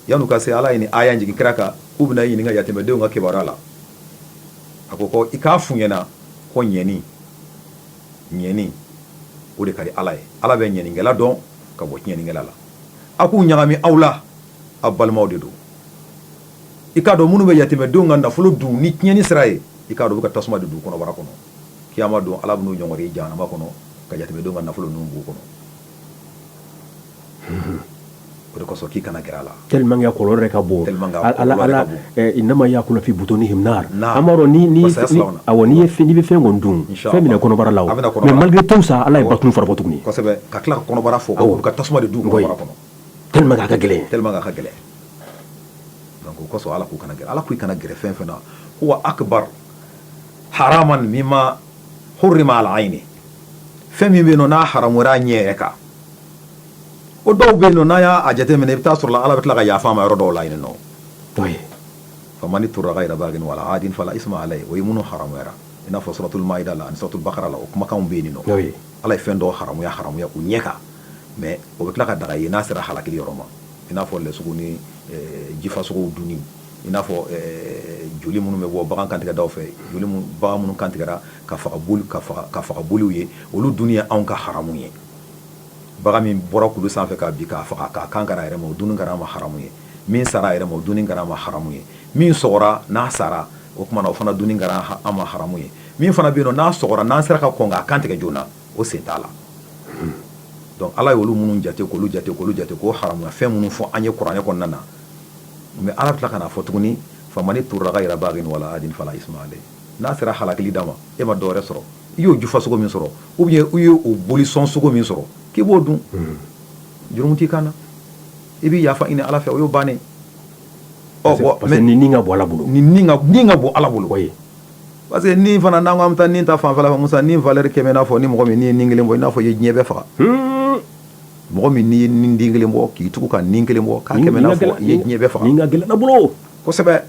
yan'u ka se ala ye nin aya jigin kira kan k'u bɛna ɲininka yatimɛdenw ka kibaruya la a ko ko i k'a f'u ɲɛna ko ɲɛni ɲɛni o de ka di ala ye ala bɛ ɲɛninkɛla dɔn ka bɔ tiɲɛninkɛla la a k'u ɲagami aw la aw balimaw de don i k'a dɔn minnu bɛ yatimɛdenw ka nafolo dun ni tiɲɛni sira ye i k'a dɔn u bɛ ka tasuma de don u kɔnɔbara kɔnɔ kiyama don ala b'u ɲɔngɔri jahanama kɔnɔ ka yatimɛdenw ka nafolo ninnu b'u kɔnɔ o desɔn k'i kana g la teriya kɔrɔ yɛrɛ ka bon nama y'a kunfi but ni amadu n'i ye f bɛ fɛn kɔni dun fɛn minɛ kɔnɔbara la mali to sa ala ye ba tun fara tuguni ka tila kɔnɔbara fɔ aw ka tasuma de dun kɔnɔ te ka gɛlɛn te ka gɛlɛn kosɔ ala k'u kana g ala k' i kana gɛrɛ fɛn fɛn na ko akiba ha ma min ma hma ala a ɲini fɛn min bɛ n'a ha ɲɛ yɛrɛ kan o dɔw bɛ yen nɔ n'a y'a jate minɛ i bɛ taa sɔrɔ ala bɛ tila ka yafa ma yɔrɔ dɔw la yen nɔ famani turra gayra bagin wala adin fala isma alayh o ye minnu haramuyara i n'a fɔ suratul mayida la ani suratul bakara la o kumakanw bɛ yen nɔ ala ye fɛn dɔw haramuya u ɲɛ kan mɛ o bɛ tila k'a daga i ye n'a sera halakili yɔrɔ ma i n'a fɔ lɛsogo ni jifasogo dunni i n'a fɔ joli minnu bɛ bɔ bagan kantigɛda fɛ joli bagan minnu kantigɛra ka faga boliw ye olu dunni ye anw ka haramu ye bagan min bɔra kulu sanfɛ ka bin k'a faga k'a kan kari a yɛrɛ ma o dunni kɛra an ma haramu ye min sara a yɛrɛ ma o dunni kɛra an ma haramu ye min sɔgɔra n'a sara o tuma na o fana dunni kɛra an ma haramu ye min fana bɛ yen nɔ n'a sɔgɔra n'an sera ka kɔn k'a kan tigɛ joona o sen t'a la donc ala ye olu minnu jate k'olu jate k'olu jate k'o haramuya fɛn minnu fɔ an ye kuranɛ kɔnɔna na mɛ ala bɛ tila ka n'a fɔ tuguni famani turra gayra bagin wala adin fala isma alayh N'a sera halakili da ma e ma dɔwɛrɛ sɔrɔ i y'o jufa sogo min sɔrɔ ou bien i y'o bolisɔn sogo min sɔrɔ k'i b'o dun jurumu t'i kan na i bɛ yafa ɲini ala fɛ o y'o bannen ni ka bon ni ka bon ala bolo oui parce que nin fana n'an ko an bɛ taa nin ta fan fɛ musa ni valɛri kɛmɛ i n'a fɔ ni mɔgɔ min n'i ye nin kelen bɔ i n'a fɔ i ye diɲɛ bɛɛ faga mɔgɔ min n'i ye nin den kelen bɔ k'i tugu ka nin kelen bɔ k'a kɛmɛ i n'a fɔ i ye diɲɛ bɛɛ faga ni ka gɛlɛn ala bolo kosɛbɛ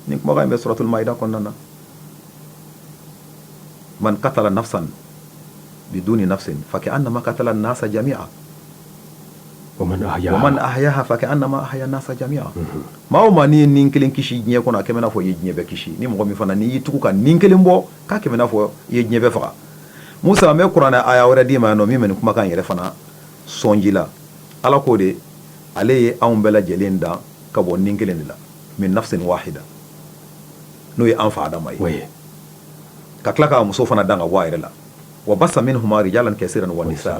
nin kumakan in bɛ suratul mayida kɔnɔna na man katala nafsan biduni nafsin fa ka annama katala nasa jamiya wa man ahyaha fa ka annama ahya nasa jamiya maa o maa n'i ye nin kelen kisi diɲɛ kɔnɔ a kɛmɛ i n'a fɔ i ye diɲɛ bɛɛ kisi ni mɔgɔ min fana n'i y'i tugu ka nin kelen bɔ k'a kɛmɛ i n'a fɔ i ye diɲɛ bɛɛ faga musa an bɛ kuranɛ aya wɛrɛ d'i ma yan nɔ min bɛ nin kumakan yɛrɛ fana sɔnji la ala ko de ale ye anw bɛɛ lajɛlen dan ka bɔ nin kelen de la min nafsin wahida n'o ye an fa adama ye ka tila k'a muso fana dan ka bɔ a yɛrɛ la wa basa minhuma rijalan kasiran wa nisa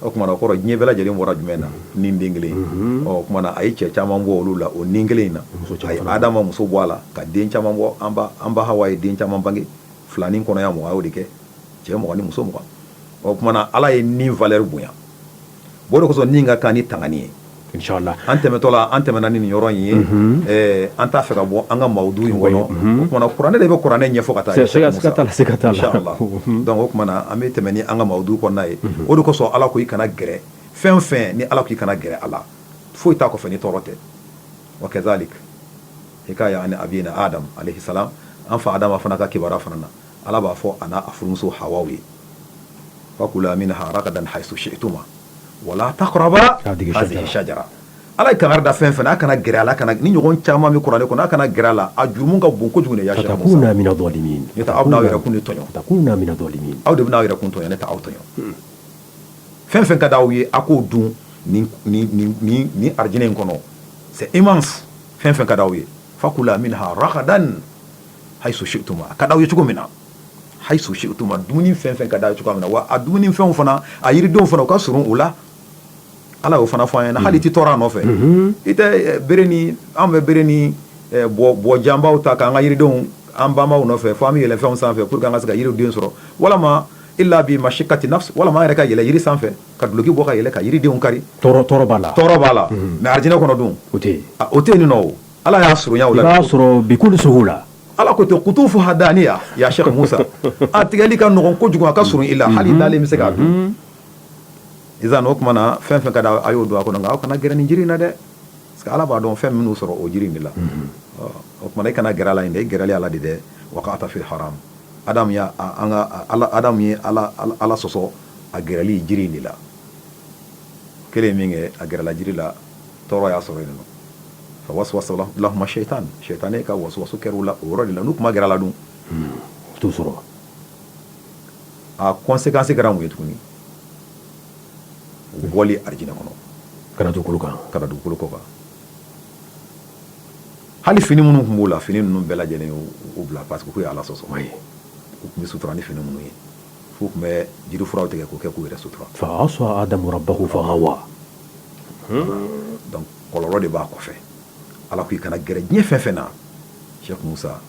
o kumana o kɔrɔ diɲɛ bɛɛ lajɛlen bɔra jumɛn na ni den kelen mhm. o kumana a ye cɛ caman bɔ olu la o ni kelen in na a ye adama muso bɔ a la ka den caman bɔ an ba an ba hawa ye den caman bange filani kɔnɔya mugan a y'o de kɛ cɛ mugan ni muso mugan o kumana ala ye ni valɛri bonya O de kosɔn nin ka kan ni tangani ye an tɛmɛtɔla an tɛmɛna ni nin yɔrɔ in ye an t'a fɛ ka bɔ an ka mawudu in kɔnɔ kuranɛ de bɛ kuranɛ ɲɛfɔ ka taa inshallah donc o kumana an bɛ tɛmɛ ni an ka mawudu kɔnɔna ye o de kosɔn ala ko i kana gɛrɛ fɛn fɛn ni ala ko i kana gɛrɛ a la foyi t'a kɔfɛ ni tɔɔrɔ tɛ wa kazalik hikaya ani abina adam alayhi salam an fa adama fana ka kibaruya fana na ala b'a fɔ a n'a a furumuso hawaw ye fakula minha ragadan haythu shi'tuma wala taqraba hadhihi shajara ala ye kangari da fɛn fɛn a kana gɛrɛ a la kana ni ɲɔgɔn caman bɛ kuranɛ kɔnɔ a kana gɛrɛ a la a jurumu ka bon kojugu de ya takuna mina dhalimin ne aw n'aw yɛrɛ kun tɔɲɔ takuna mina dhalimin aw de bɛn'aw yɛrɛ kun tɔɲɔ ne ta aw tɔɲɔ fɛn fɛn ka di aw ye a k'o dun ni ni ni ni ni arijinɛ in kɔnɔ c'est immense fɛn fɛn ka di aw ye fakula minha ragadan haythu shi'tuma a ka d'aw ye cogo min na haythu shi'tuma dumuni fɛn fɛn ka d'aw ye cogo min na wa a dumuni fɛnw fana a yiridenw fana u ka surun u la ala y'o fana fɔ an ye hali i tɛ tɔɔrɔ a nɔfɛ mhm. i tɛ eh, bere ni an bɛ bere ni eh, bɔ janbaw ta k'an ka yiridenw an banbaw nɔfɛ fo an bɛ yɛlɛ fɛnw sanfɛ pour que an ka se ka yiridenw sɔrɔ walama illa bi mashikati nafs walama an yɛrɛ ka yɛlɛ yiri sanfɛ ka duloki bɔ ka yɛlɛ ka yiridenw kari tɔɔrɔ tɔɔrɔ b'a la tɔɔrɔ b'a la mhm. mais arijinɛ kɔnɔ dun o tɛ yen o tɛ yen nin nɔ o Ala y'a surunya o la, i b'a sɔrɔ bi kulli suhula, Ala ko ten kutufuha daniya ya Sheikh Musa a tigɛli ka nɔgɔn kojugu a ka surun i la hali i dalen bɛ se k'a dun, unhun, izan o tuma na fɛn o fɛn ka d'a ye a y'o dun a kɔnɔ nka aw kana gɛrɛ nin jiri in na dɛ parce que Ala b'a dɔn fɛn min y'u sɔrɔ o jiri in de la, unhun, ɔ o tuma na i kana gɛrɛ a la yen dɛ i gɛrɛli a la de dɛ waqa'ta fil haram Adamu ye an ka Ala Adamu ye Ala Ala sɔsɔ a gɛrɛli jiri in de la, o kɛlen min kɛ a gɛrɛla jiri la tɔɔrɔ y'a sɔrɔ yen fa waswasa lahuma sɛyitani sɛyitani ka waswasu kɛr'u la o yɔrɔ de la n'u kun ma gɛrɛ a la dun o t'u sɔrɔ a conséquence kɛra mun ye tuguni u bɔli alijinɛ kɔnɔ ka na dugukolo kan ka na dugukolo kɔ kan hali fini minnu tun b'u la fini ninnu bɛɛ lajɛlen y'u bila parce que k'u ye ala sɔsɔ mais u tun bɛ sutura ni fini minnu ye f'u tun bɛ jiri furaw tigɛ k'o kɛ k'u yɛrɛ sutura fa asa adamu rabbahu fagawa Kɔlɔlɔ de b'a kɔfɛ ala ko i kana gɛrɛ diɲɛ fɛn fɛn na Sheikh Musa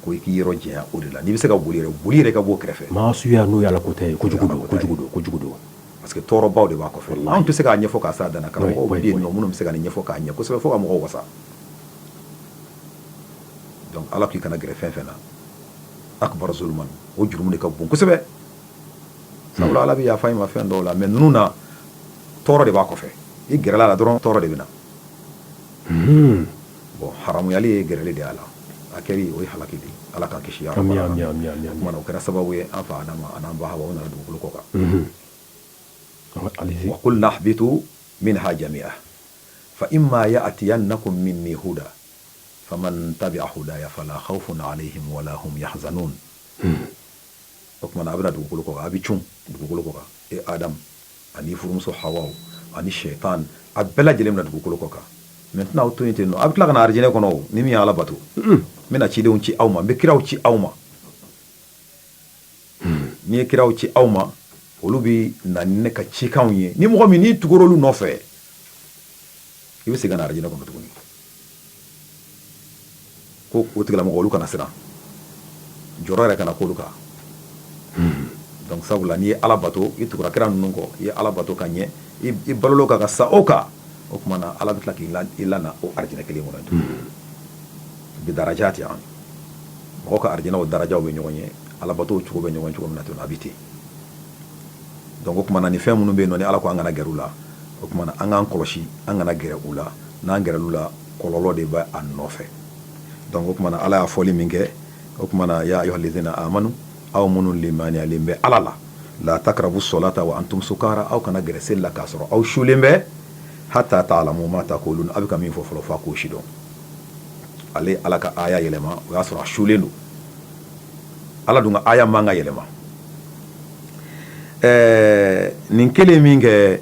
ko i k'i yɔrɔ janya o de la n'i bɛ se ka boli boli yɛrɛ ka bɔ o kɛrɛfɛ maasuya n'o ye ala ko tɛ ye kojugu don kojugu don kojugu don parce que tɔɔrɔbaw de b'a kɔfɛ an tɛ se k'a ɲɛfɔ k'a s'a dan na karamɔgɔw bɛ yen nɔ minnu bɛ se ka nin ɲɛfɔ k'a ɲɛ kosɛbɛ fo ka mɔgɔw wasa ala k'i kana gɛrɛ fɛn fɛn na akbar zulman o jurumu de ka bon kosɛbɛ Sabula ala bɛ yafa i ma fɛn dɔw la mais ninnu na tɔɔrɔ de b'a kɔfɛ i gɛrɛla a la dɔrɔn tɔɔrɔ de bɛ na hmm. bon haramuyali ye gɛrɛli de y'a la a kɛli o ye halaki de ala k'an kisi o kɛra sababu ye an fa an'an ba nana dugukolo kɔ kan hmm. qulna ihbitu minha jami'a fa imma ya'tiyannakum minni huda faman tabi'a hudaya fala khawfun alayhim wala ya O tuma na a bɛna dugukolo kɔ kan a bɛ cun dugukolo kɔ kan e adamu ani furumuso hawa ani shɛtan a bɛɛ lajɛlen bɛna dugukolo kɔ kan mais n tɛna aw to yen ten nɔ a bɛ tila ka na arijinɛ kɔnɔ ni min ye ala bato n bɛna cidenw ci aw ma n bɛ kiraw ci aw ma ni n ye kiraw ci aw ma olu bɛ na ni ne ka cikanw ye ni mɔgɔ min n'i tugura olu nɔfɛ i bɛ segin ka na arijinɛ kɔnɔ tuguni ko o tigilamɔgɔ olu kana siran jɔrɔ yɛrɛ kana k'olu kan hmm. donc sabula n'i ye ala bato i tugura kira ninnu kɔ i ye ala bato ka ɲɛ i balola o kan ka sa o kan o tuma na ala bɛ tila k'i lana o arijinɛ kelen kɔnɔ tuguni hmm. bi darajati yaani mɔgɔ ka arijinɛw darajaw bɛ ɲɔgɔn ɲɛ ala bato cogo bɛ ɲɔgɔn ɲɛ cogo min na ten a bɛ ten Donc o tuma na ni fɛn minnu bɛ yen nɔ ni Ala ko an kana gɛrɛ u la, o tuma na an k'an kɔlɔsi an kana gɛrɛ u la, n'an gɛrɛla u la kɔlɔlɔ de bɛ a nɔfɛ. Donc o tuma na Ala y'a fɔli min kɛ, o tuma na yaa ayuha lezina amanu aw minnu limaniyalen bɛ Ala la, laa takarabu sɔlata wa antum sukaara aw kana gɛrɛ seli la k'a sɔrɔ aw sulen bɛ, hata taalamu maa takuulun aw bɛ ka min fɔ fɔlɔ f'a k'o sidɔn. Ale ye Ala ka aaya yɛlɛma o y'a sɔrɔ a sulen don. ala dun ka aaya man ka yɛlɛma ɛɛ nin kɛlen min kɛ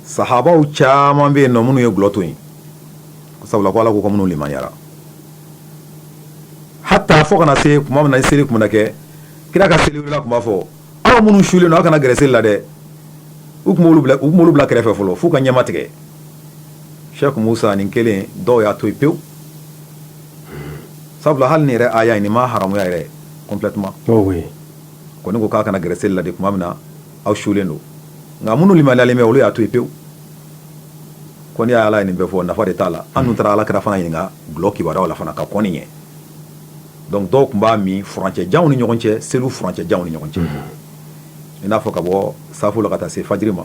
sahabaw caman bɛ yen nɔ minnu ye gulɔ to yen sabula ko ala ko k'aw minnu limaniyara hatta fo ka na se kuma min na seli tun bɛna kɛ kira ka seli wulila tun b'a fɔ aw minnu sulen don aw kana gɛrɛ seli la dɛ u tun b'olu bila u tun b'olu bila kɛrɛfɛ fɔlɔ f'u ka ɲɛma tigɛ Sheikh Musa nin kɛlen dɔw y'a to yen pewu sabula hali nin yɛrɛ aaya nin m'a haramuya yɛrɛ complètement ko ne ko k'a kana gɛrɛ seli la de tuma min na aw sulen don nka minnu limaniyalen bɛ olu y'a to yen pewu ko ni ala ye nin bɛɛ fɔ nafa de t'a la an dun taara ala kira fana ɲininka dulɔ kibaruya la fana ka kɔn nin ɲɛ donc dɔw tun b'a min furancɛ jan u ni ɲɔgɔn cɛ seliw furancɛ jan u ni ɲɔgɔn cɛ i n'a fɔ ka bɔ safo la ka taa se fajiri ma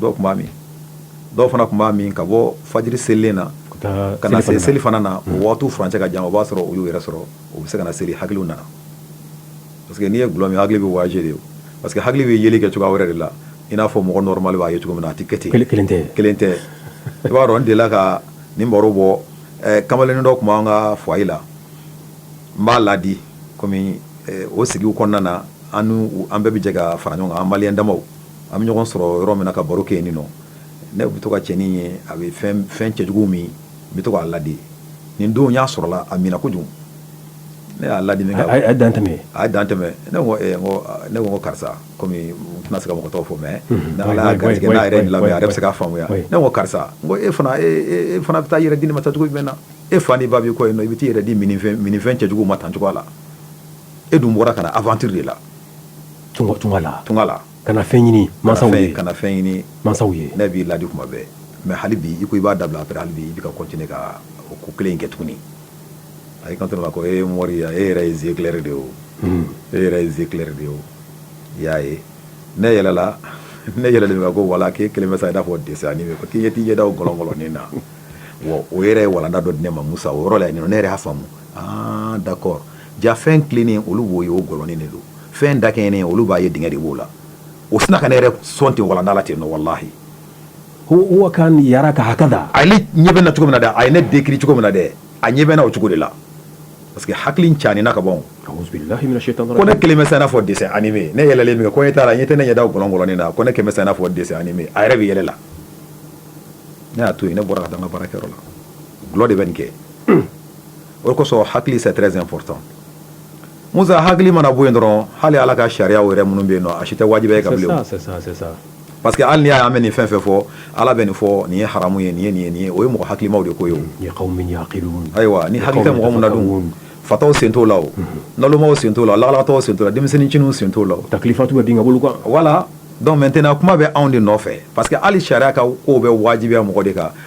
dɔw tun b'a min dɔw fana tun b'a min ka bɔ fajiri selilen na ka na se selifana na o waatiw furancɛ ka jan o b'a sɔrɔ u y'u yɛrɛ sɔrɔ u bɛ se ka na seli hakili nana parce que n'i ye dulɔ min hakili bɛ voyager de parce que hakili bɛ yeli kɛ cogoya wɛrɛ de la i n'a fɔ mɔgɔ normal b'a ye cogo min na a tɛ kɛ ten kelen kelen tɛ kelen tɛ i b'a dɔn n delila ka nin baro bɔ kamalennin dɔ tun b'an ka foyer la n b'a laadi kɔmi o sigi kɔnɔna na an an bɛɛ bɛ jɛ ka fara ɲɔgɔn kan an maliens damaw An bɛ ɲɔgɔn sɔrɔ yɔrɔ min na ka baro kɛ yen nin nɔ ne bɛ to ka cɛnin ye a bɛ fɛn cɛjugu min n bɛ to k'a ladi nin don y'a sɔrɔla a minna kojugu ne y'a ladi min kɛ a ye dan tɛmɛ ne ko karisa kɔmi n tɛna se ka mɔgɔ tɔgɔ fɔ mais ala y'a garijɛgɛ n'a yɛrɛ nin lamɛn a yɛrɛ bɛ se k'a faamuya ne ko karisa ko e fana e fana bɛ t'i yɛrɛ di nin ma tan cogo jumɛn na e fa ni ba b'i kɔ yen i bɛ t'i yɛrɛ di minfɛn cɛjugu ma tan cogoya la e dun bɔra ka na aventure de la tunga la ka na fɛn ɲini masaw ye ne b'i ladi kuma bɛɛ mais hali bi i ko i b'a dabila après hali bi i bɛ ka continuer ka o ko kelen in kɛ tuguni a y'i kanto ko e mori e yɛrɛ ye yeux clairs de ye o e yɛrɛ ye yeux clairs de ye o i y'a ye ne yɛlɛla ne yɛlɛ de ko wala k'e kelen bɛ sa i n'a fɔ dessin animé ko k'i ye t'i ɲɛ da gɔlɔngɔlɔnin na o yɛrɛ ye walanda dɔ di ne ma musa o yɔrɔ la ne yɛrɛ y'a faamu aa d'accord Ja fɛn tilennen olu b'o ye o gɔlɔnin de don fɛn dakɛɲɛnen olu b'a ye dingɛ de b'o la o sina ka ne yɛrɛ sɔn ten walanda la ten nɔ wallahi huwa kana yaraka hakada a ɲɛ bɛ na cogo min na dɛ a ye ne décrit cogo min na dɛ a ɲɛ bɛ na o cogo de la parce que hakili ca ni na ka bɔ ko ne kelen bɛ n'a fɔ dessin animé ne yɛlɛlen min kɛ ko e taara n ɲɛ tɛ ne ɲɛ da gɔlɔngɔlɔnin na ko ne kelen bɛ n'a fɔ dessin animé a yɛrɛ bɛ yɛlɛ la ne y'a to yen ne bɔra ka taa baarakɛyɔrɔ la gulɔ de bɛ nin kɛ o kosɔn hakili c'est très important musa hakili mana bɔ yen dɔrɔn hali ala ka sariya yɛrɛ minnu bɛ yen a si tɛ wajibi ye i kan parce que hali n'i y'a mɛn nin fɛn fɛn fɔ ala bɛ nin fɔ nin ye haramu ye nin ye nin ye o ye mɔgɔ hakilimaw de ko ye ayiwa ni hakili tɛ mɔgɔ min na dun fataw sen t'o la nalomaw sen t'o la lagalagatɔw sen t'o la denmisɛnnincininw sen t'o la taklifatu bɛ denkɛ bolo voilà donc maintenant kuma bɛ anw de nɔfɛ parce que hali sariya ka kow bɛ wajibiya mɔgɔ de kan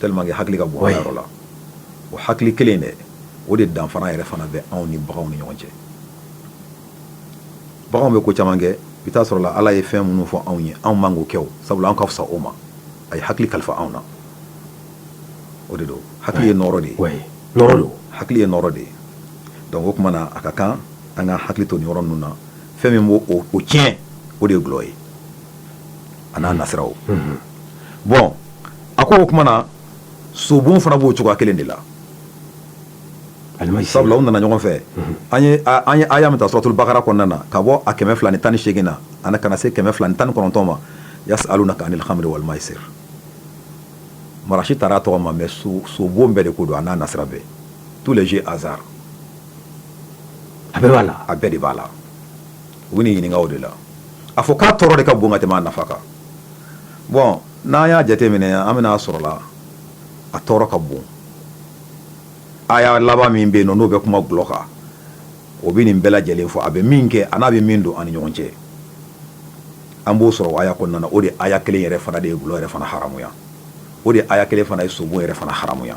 tellement que hakili ka bon a yɔrɔ la o hakili kelen dɛ o de danfara yɛrɛ fana bɛ anw ni baganw ni ɲɔgɔn cɛ baganw bɛ ko caman kɛ i t'a sɔrɔ la ala ye fɛn minnu fɔ anw ye anw man k'o kɛ o sabula an ka fisa o ma a ye hakili kalifa anw na o de don hakili ye nɔɔrɔ de ye nɔɔrɔ don hakili ye nɔɔrɔ de ye donc o tuma na a ka kan an ka hakili to nin yɔrɔ ninnu na fɛn min b'o o tiɲɛ o de ye gulɔ ye a n'a nasira o bon a ko o tuma na sobon fana b'o cogoya kelen de la sabula u nana ɲɔgɔn fɛ an ye aya min ta suratul bakara kɔnɔna na ka bɔ a kɛmɛ fila ni tan ni segin na an ka na se kɛmɛ fila ni tan ni kɔnɔntɔn ma yasalunaka anil khamri wal maisir marasi taara a tɔgɔ ma mais sobon bɛɛ de ko don a n'a nasira bɛɛ tous les jeux hasard a bɛɛ b'a la a bɛɛ de b'a la u bɛ nin ɲininka o de la a fɔ k'a tɔɔrɔ de ka bon ka tɛmɛ a nafa kan bon n'an y'a jateminɛ an bɛna a sɔrɔ la a tɔɔrɔ ka bon aya laban min bɛ yen n'o bɛ kuma gulɔ kan o bɛ nin bɛɛ lajɛlen fɔ a bɛ min kɛ a n'a bɛ min don an ni ɲɔgɔn cɛ an b'o sɔrɔ aya kɔnɔna na o de aya kelen yɛrɛ fana de ye gulɔ yɛrɛ fana haramuya o de aya kelen fana ye sobon yɛrɛ fana haramuya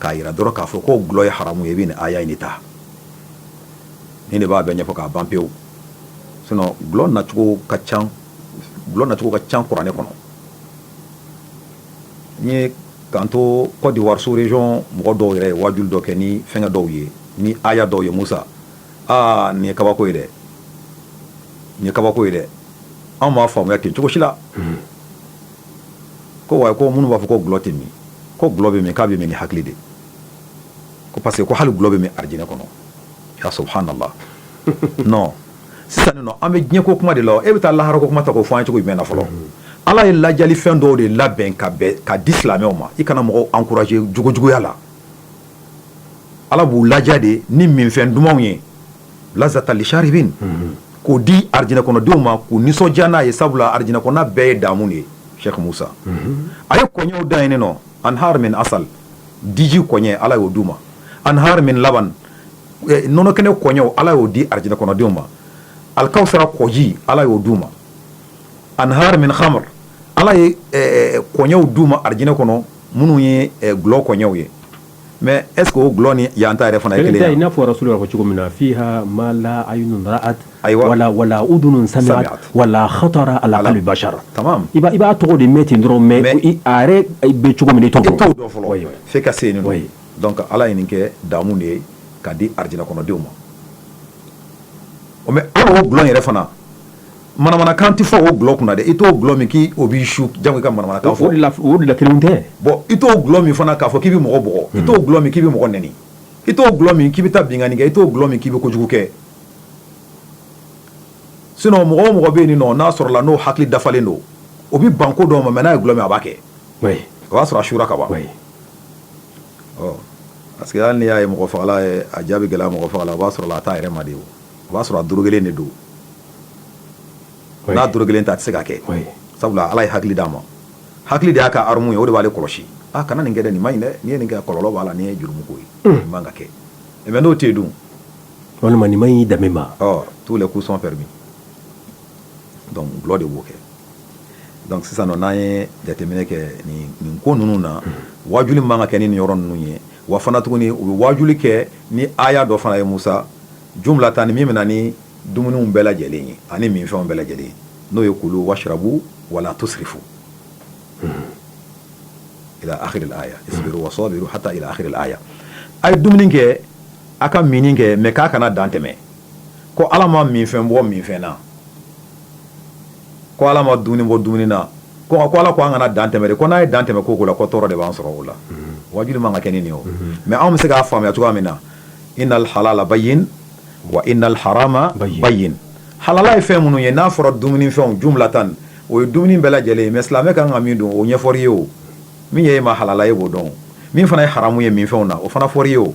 k'a jira dɔrɔn k'a fɔ ko gulɔ ye haramu ye i bɛ nin aya in de ta nin de b'a bɛɛ ɲɛfɔ k'a ban pewu sinon gulɔ nacogo ka ca kuranɛ kɔnɔ n ye k'an to Côte d'Ivoire sous région mɔgɔ dɔw yɛrɛ ye waajuli dɔ kɛ ni fɛngɛ dɔw ye ni aya dɔw ye Musa aa nin ye kabako ye dɛ nin ye kabako ye dɛ anw m'a faamuya ten cogo si la ko wa ko minnu b'a fɔ ko gulɔ tɛ min ko gulɔ bɛ min k'a bɛ min ni hakili de ko parce que ko hali gulɔ bɛ min arijinɛ kɔnɔ ya subhanallah non sisan nin nɔ an bɛ diɲɛ ko kuma de la e bɛ taa lahara ko kuma ta k'o fɔ an ye cogo jumɛn na fɔlɔ ala ye lajali fɛn dɔw de labɛn ka di silamɛw ma i kana mɔgɔw encourager jogojuguya la ala b'u laja de ni minfɛn dumanw ye lazata lisharibin k'o di arijinɛ kɔnɔdenw ma k'u nisɔndiya n'a ye sabula arijinɛ kɔnɔna bɛɛ ye damu de ye Sheikh Musa a ye kɔɲɛw da yen nɔ anhar min asal diji kɔɲɛ ala y'o di u ma anhar min laban nɔnɔ kɛnɛ kɔɲɛw ala y'o di arijinɛ kɔnɔdenw ma alkawsara kɔji ala y'o di u ma anhar min khamr ala ye kɔɲɛw di u ma arijinɛ kɔnɔ minnu ye gulɔ kɔɲɛw ye mɛ es o dulɔ ni yan ta yɛrɛ fana kelen ye n'a fɔra su ko cogo min na fi ma la a wala wala u dun sa wala hata ala la basa i b'a tɔgɔ de mɛ ten dɔrɔn mɛ bɛ cogo min tɔgɔ dɔ fɔlɔ fo ka se ye ka ala ɲini kɛ damu de ye ka di arid kɔnɔdenw ma o mɛ ala dulɔ yɛrɛ fana Manamanakan tɛ fɔ o gulɔ kunna dɛ i t'o gulɔ min k'i o b'i su jango i ka manamanakan fɔ o de la f o de la kelenw tɛ bon i t'o gulɔ min fana k'a fɔ k'i be mɔgɔ bugɔ unhun i t'o gulɔ min k'i be mɔgɔ neni i t'o gulɔ min k'i be taa binkanni kɛ i t'o gulɔ min k'i be kojugu kɛ sinon mɔgɔ o mɔgɔ be yen nɔ n'a sɔrɔla n'o hakili dafalen don o bi ban ko dɔw ma mais n'a ye gulɔ min a b'a kɛ oui o b'a sɔrɔ a sura ka ban oui ɔ parce que hali n'i y'a ye mɔgɔfagala ye a ja be gɛlɛya mɔgɔfaga la o b'a sɔrɔla a t'a yɛrɛ ma de o o b'a sɔrɔ a dorogelen de don n'a dorogelen tɛ a tɛ se k'a kɛ sabula ala ye hakili d'a ma hakili de y'a ka arme ye o de b'ale kɔlɔsi a kana nin kɛ nin ma ɲi dɛ n'i ye nin kɛ kɔlɔlɔ b'a la nin ye jurumuko ye nin man ka kɛ mais n'o tɛ yen dun walima nin ma ɲi danbe ma tous les coups sont permis donc gulɔ de b'o kɛ donc sisan nɔ n'an ye jateminɛ kɛ nin ko ninnu na waajuli man ka kɛ ni nin yɔrɔ ninnu ye wa fana tuguni u bɛ wajuli kɛ ni aya dɔ fana ye musa jumlatan ni min bɛ na ni dumuniw bɛɛ lajɛlen ye ani minfɛnw bɛɛ lajɛlen ye n'o ye kulu washrabu wala tusrifu ila akhiril aya isbiru wa sabiru hatta ila akhiril aya a ye dumuni kɛ a ka minni kɛ mais k'a kana dan tɛmɛ ko ala ma minfɛn bɔ minfɛn na ko ala ma dumuni bɔ dumuni na ko ko ala ko an kana dan tɛmɛ de ko n'an ye dan tɛmɛ ko o ko la ko tɔɔrɔ de b'an sɔrɔ o la mhm. wajuli man ka kɛ ni nin o mhm. mais anw bɛ se k'a faamuya cogoya min na innal halala bayyin wa innal harama bayyin halala ye fɛn minnu ye n'a fɔra dumuni fɛnw jumlatan o ye dumuni bɛɛ lajɛlen ye mais silamɛ ka kan ka min dun o ɲɛfɔr'i ye o min ye e ma halala ye b'o dɔn min fana ye haramu ye minfɛnw na o fana fɔr'i ye o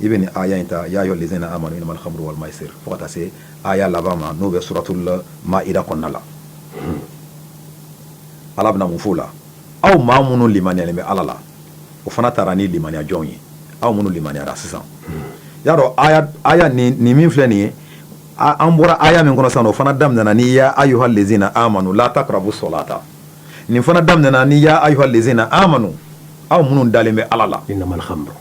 i bɛ nin aya in ta ya ayuha lezina amanu inamal khamru wal maisir fo ka taa se aya laban ma n'o bɛ suratul maida kɔnɔna la ala bɛna mun f'o la aw maa minnu limaniyalen bɛ ala la o fana taara ni limaniya jɔnw ye aw minnu limaniyara sisan y'a dɔn aya aya nin nin min filɛ nin ye an bɔra aya min kɔnɔ sisan o fana daminɛna ni ya ayuha lezina amanu la taqrabu salata nin fana daminɛna ni ya ayuha lezina amanu aw minnu dalen bɛ ala la inamal khamru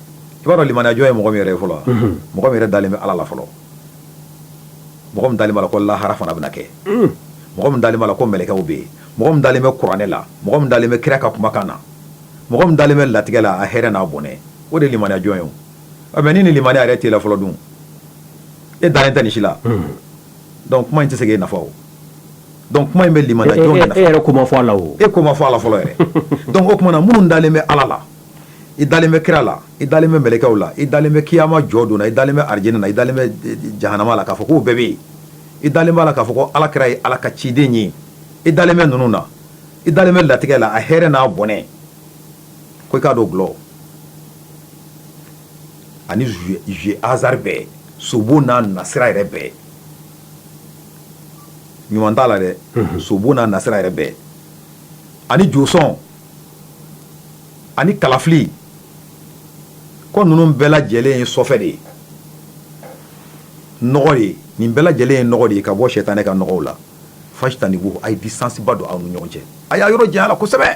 i b'a dɔn limaniyajɔn ye mɔgɔ min yɛrɛ ye fɔlɔ wa, unhun, mɔgɔ min yɛrɛ dalen bɛ Ala la fɔlɔ, mɔgɔ min dalen b'a la ko lahara fana bɛna kɛ, un, mɔgɔ min dalen b'a la ko mɛlɛkɛw bɛ yen, mɔgɔ min dalen bɛ kuranɛ la, mɔgɔ min dalen bɛ kira ka kumakan na, mɔgɔ min dalen bɛ latigɛ la a hɛrɛ n'a bɔnɛ, o de ye limaniyajɔn ye o, ɔ mais ni nin limaniya yɛrɛ t'e la fɔlɔ dun, e dalen tɛ nin si la, unhun, donc kuma in tɛ se k'e nafa o. donc kuma in bɛ limaniyajɔnw de nafa, e yɛrɛ ko ma fɔ a la o, e ko ma fɔ a la fɔlɔ yɛrɛ donc o tuma na minnu dalen bɛ Ala la i dalen bɛ kira la i dalen bɛ mɛlɛkɛw la i dalen bɛ kiyama jɔ don na i dalen bɛ arijinɛ na i dalen bɛ eh, eh, jahanama la k'a fɔ k'o bɛɛ bɛ yen i dalen b'a la k'a fɔ ko ala kira ye ala ka ciden ye i dalen bɛ ninnu na i dalen bɛ latigɛ la a hɛrɛ n'a bɔnɛ ko i k'a dɔn gulɔ ani jeu hasard bɛɛ sobo n'a nasira yɛrɛ bɛɛ ɲuman t'a la dɛ sobo n'a nasira yɛrɛ bɛɛ ani josɔn ani kalafili ko ninnu bɛɛ lajɛlen ye sɔfɛ de ye nɔgɔ de nin bɛɛ lajɛlen ye nɔgɔ de ye ka bɔ sɛtanɛ ka nɔgɔw la fajtanibuhu a ye distance ba don aw ni ɲɔgɔn cɛ a y'a yɔrɔ janya a la kosɛbɛ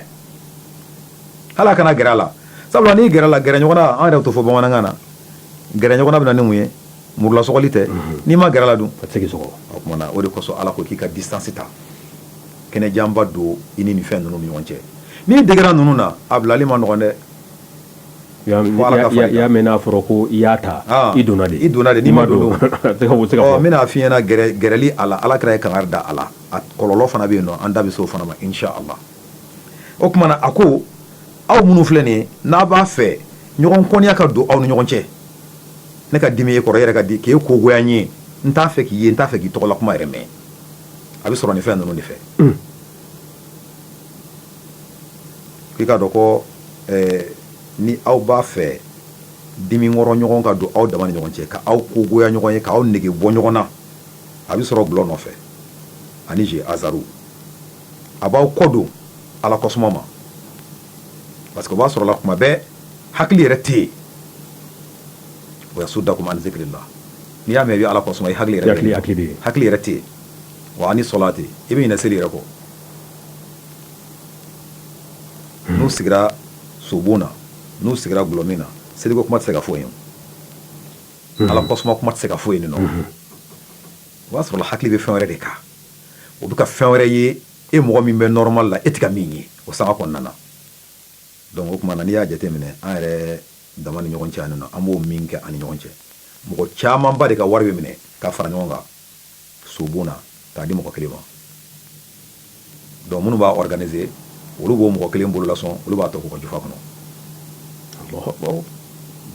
hali a kana gɛrɛ a la sabula n'i gɛrɛ a la gɛrɛ ɲɔgɔn na an yɛrɛ t'o fɔ bamanankan na gɛrɛ ɲɔgɔn na bɛ na ni mun ye muru la sɔgɔli tɛ mhm. n'i ma gɛrɛ a la dun a tɛ se k'i sɔgɔ o tuma na o de kosɔn ala ko k'i ka distance ta kɛnɛjanba don i ni nin fɛn ninnu ni ɲɔgɔn cɛ n'i degera ninnu na a bilali ma nɔgɔ dɛ y'a mɛn n'a fɔra ko i y'a ta ah. i donna i donna de n'i ma don n bɛna f'i ɲɛna gɛrɛli a la ala kira ye kangari da a la a kɔlɔlɔ fana bɛ yen nɔ an da bɛ se o fana ma inchallah o tuma na a ko aw minnu filɛ nin n'a b'a fɛ ɲɔgɔn kɔniya ka don aw ni ɲɔgɔn cɛ ne ka dimi e kɔrɔ yɛrɛ ka di k'e kogoya n ye n t'a fɛ k'i ye n t'a fɛ k'i tɔgɔla kuma yɛrɛ mɛn a bɛ sɔrɔ nin fɛn ninnu de fɛ k'i k'a dɔn ko ni aw b'a fɛ diminkɔrɔ ɲɔgɔn ka don aw dama ni ɲɔgɔn cɛ ka aw ko goya ɲɔgɔn ye k'aw nege bɔ ɲɔgɔn na a bɛ sɔrɔ gulɔ nɔfɛ ani jeu hasard a b'aw kɔ don ala kosuma parce que o b'a sɔrɔ la kuma bɛɛ hakili yɛrɛ tɛ yen wa yasuddakum an zikrillah n'i y'a mɛn i bɛ ala kosuma i hakili yɛrɛ hakili hakili ye hakili yɛrɛ tɛ yen wa ani salati i bɛ ɲinɛ seli yɛrɛ kɔ hmm. n'u sigira sobon na n'u sigira gulɔmin na seliko kuma tɛ se ka fɔ yen hmm. ala kosuma kuma tɛ se ka fɔ yen nɔ hmm. o b'a sɔrɔ hakili bɛ fɛn wɛrɛ de kan o bɛ ka fɛn wɛrɛ ye e mɔgɔ min bɛ normal la e tɛ ka min ye o sanga kɔnɔna na donc o tuma na n'i y'a jateminɛ an yɛrɛ dama ni ɲɔgɔn cɛ yan nɔ an b'o min kɛ an ni ɲɔgɔn cɛ mɔgɔ camanba de ka wari bɛ minɛ ka fara ɲɔgɔn kan sobon na k'a di mɔgɔ kelen ma donc minnu b'a organiser olu b'o mɔgɔ kelen bolo lasɔn olu b'a tɔ k'u ka jufa kɔnɔ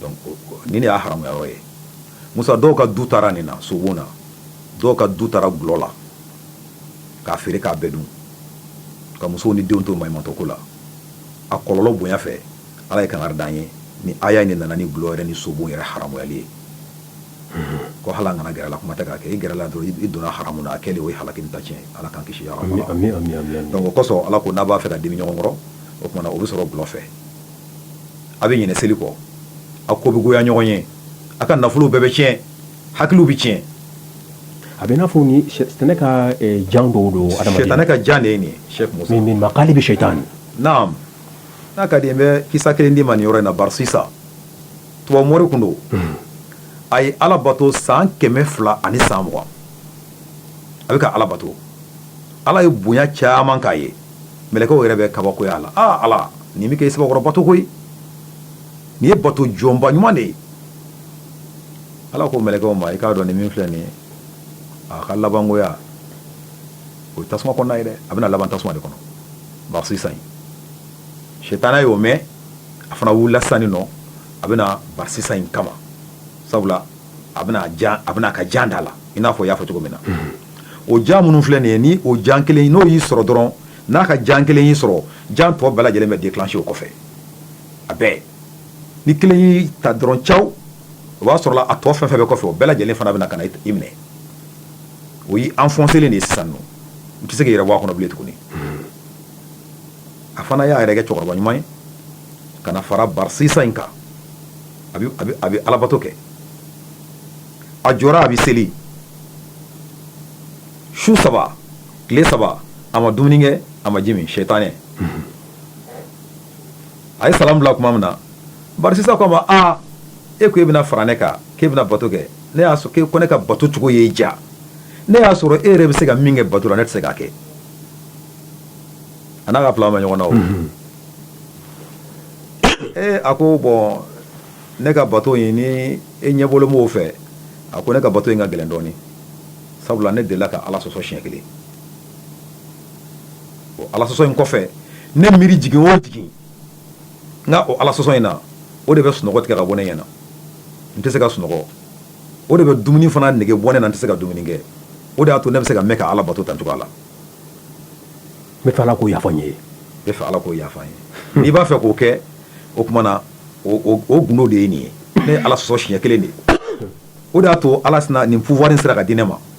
donc nin de y'a haramuya yɔrɔ ye musa dɔw ka du taara nin na sobon na dɔw ka du taara gulɔ la k'a feere k'a bɛɛ dun ka musow ni denw to maɲumantɔko la a kɔlɔlɔ bonya fɛ ala ye kangari d'an ye ni aya in de nana ni gulɔ yɛrɛ ni sobon yɛrɛ haramuyali ye ko hali a kana gɛrɛ a la kuma tɛ k'a kɛ i gɛrɛla dɔrɔn i donna haramu na a kɛlen o ye halaki ni ta tiɲɛ ala k'an kisi yɔrɔ ma donc o kosɔn ala ko n'a b'a fɛ ka dimi ɲɔgɔn kɔrɔ o tuma na o bɛ sɔrɔ gulɔ fɛ a bɛ ɲinɛ seli kɔ a ko bɛ goya ɲɔgɔn ye a ka nafolow bɛɛ bɛ tiɲɛ hakiliw bɛ tiɲɛ a bɛ n'a fɔ ni sɛtanɛ ka eh, jan dɔw don adamaden sɛtanɛ ka jan de ye nin ye sɛk musa min makayidi sɛtan naam n'a ka di n bɛ kisa kelen d'i ma nin yɔrɔ in na barisisa tubabu mori tun don a ye ala bato san kɛmɛ fila ani san mugan a bɛ ka ala bato ala ye bonya caman k'a ye mɛlɛkɛw yɛrɛ bɛ kabakoya a la aa ala nin bɛ k'e sɛbɛkɔrɔ bato koyi nin ye bato jɔnba ɲuman de ye ala ko mɛlɛkɛw ma i k'a dɔn nin min filɛ nin ye a ka labangoya o ye tasuma kɔnɔna ye dɛ a bɛna laban tasuma de kɔnɔ barasisa sitana y'o mɛn a fana wulila sisan nin nɔ a bɛna barasisa in kama sabula a bɛna a bɛna ka jan da la i n'a fɔ y'a fɔ cogo min na o jan minnu filɛ nin ye ni o jan kelen n'o y'i sɔrɔ dɔrɔn n'a ka jan kelen y'i sɔrɔ jan tɔ bɛɛ lajɛlen bɛ déclencher o kɔfɛ a bɛɛ ni kelen y'i ta dɔrɔn caw o b'a sɔrɔ a tɔ fɛn fɛn bɛ kɔfɛ o bɛɛ lajɛlen fana bɛna ka na i minɛ o y'i enfoncé de ye sisan nɔ i tɛ se k'i yɛrɛ bɔ a kɔnɔ bilen tuguni a fana y'a yɛrɛ kɛ cɛkɔrɔba ɲuman ye ka na fara barasisa in kan a bɛ alabato kɛ a jɔra a bɛ seli su saba tile saba a ma dumuni kɛ a ma ji min sɛtanɛ a ye salamu bila tuma min na barasisa ko a ma aa e ko e bɛna fara ne kan k'e bɛna bato kɛ ne y'a sɔrɔ k'e ko ne ka bato cogo ye ja ne y'a sɔrɔ e yɛrɛ bɛ se ka min kɛ bato la ne tɛ se k'a kɛ a n'a ka fila ma ɲɔgɔn na o ee a ko bɔn ne ka bato in ni e ɲɛbɔlen b'o fɛ a ko ne ka bato in ka gɛlɛn dɔɔnin sabula ne delila ka ala sɔsɔ siɲɛ kelen ala sɔsɔ in kɔfɛ ne miiri jigin o jigin n ka o ala sɔsɔ in na o de bɛ sunɔgɔ tigɛ ka bɔ ne ɲɛna n tɛ se ka sunɔgɔ o de bɛ dumuni fana nege bɔ ne na n tɛ se ka dumuni kɛ o de y'a to ne bɛ se ka mɛn ka ala bato tan cogoya la n b'a fɛ ala k'o yafa n ye n b'a fɛ ala k'o yafa n ye n'i b'a fɛ k'o kɛ o tuma na o gundo de ye nin ye ne ye ala sɔsɔ siɲɛ kelen de o de y'a to ala nin pouvoir sera ka di ne ma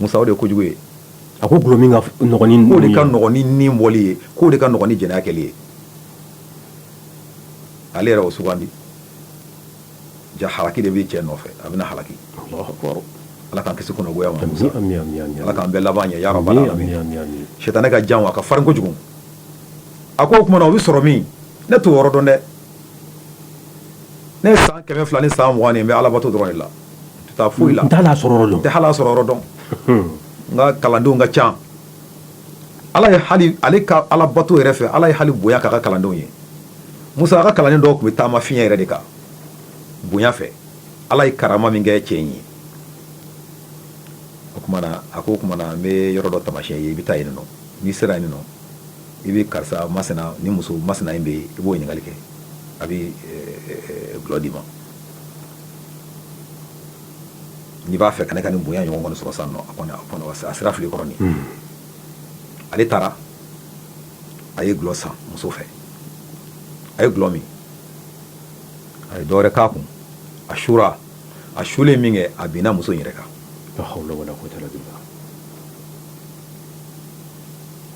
musa o de ye kojugu ye a ko gulɔ min ka nɔgɔn ni nunnu ye k'o de ka nɔgɔn ni nin bɔli ye k'o de ka nɔgɔn ni jɛnɛya kɛli ye ale yɛrɛ o sugandi ja halaki de bɛ cɛ nɔfɛ a bɛna halaki ala k'an kisi kunnagoya ma musa ala k'an bɛɛ laban ɲɛ ya rabbal alamin sitana ka jan wa a ka farin kojugu a ko o tuma na o bɛ sɔrɔ min ne t'o yɔrɔ dɔn dɛ ne ye san kɛmɛ fila ni san mugan nin n bɛ alabato dɔrɔn de la n tɛ taa foyi la n tɛ hal'a sɔrɔ yɔrɔ dɔn n ka kalandenw ka ca ala ale ka alabato yɛrɛ fɛ ala ye hali bonya k'a ka kalandenw ye musa a ka kalandenw dɔw tun bɛ taama fiɲɛ yɛrɛ de kan bonya fɛ ala ye karama min kɛ cɛ in ye o a ko o tuma na n bɛ yɔrɔ dɔ taamasiyɛn i ye i bɛ taa yen nɔ n'i sera yen nɔ i bɛ karisa masina ni muso masina in bɛ yen i b'o ɲininkali kɛ a bɛ gulɔ d'i ma n'i b'a fɛ ka ne ka nin bonya ɲɔgɔn kɔni sɔrɔ sisan nɔ a sera fili kɔrɔ hmm. ale taara a ye gulɔ san muso fɛ a ye gulɔ min a ye dɔwɛrɛ k'a kun a sura a sulen min kɛ a binna muso in yɛrɛ kan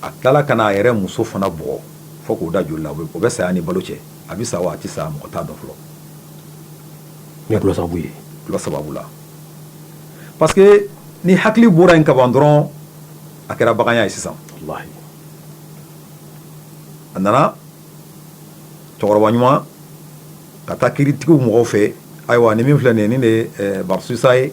a tilala ka n'a yɛrɛ muso fana bugɔ fo k'o da joli la o bɛ saya ni balo cɛ a bɛ sa wa a tɛ sa mɔgɔ t'a dɔn fɔlɔ ni dɔlɔ sababu ye dɔlɔ sababu la parce que ni hakili bɔra yen kaban dɔrɔn a kɛra baganya ye sisan a nana cɛkɔrɔba ɲuman ka taa kiritigiw mɔgɔw fɛ ayiwa ni min filɛ nin ye nin de eh, barisusa ye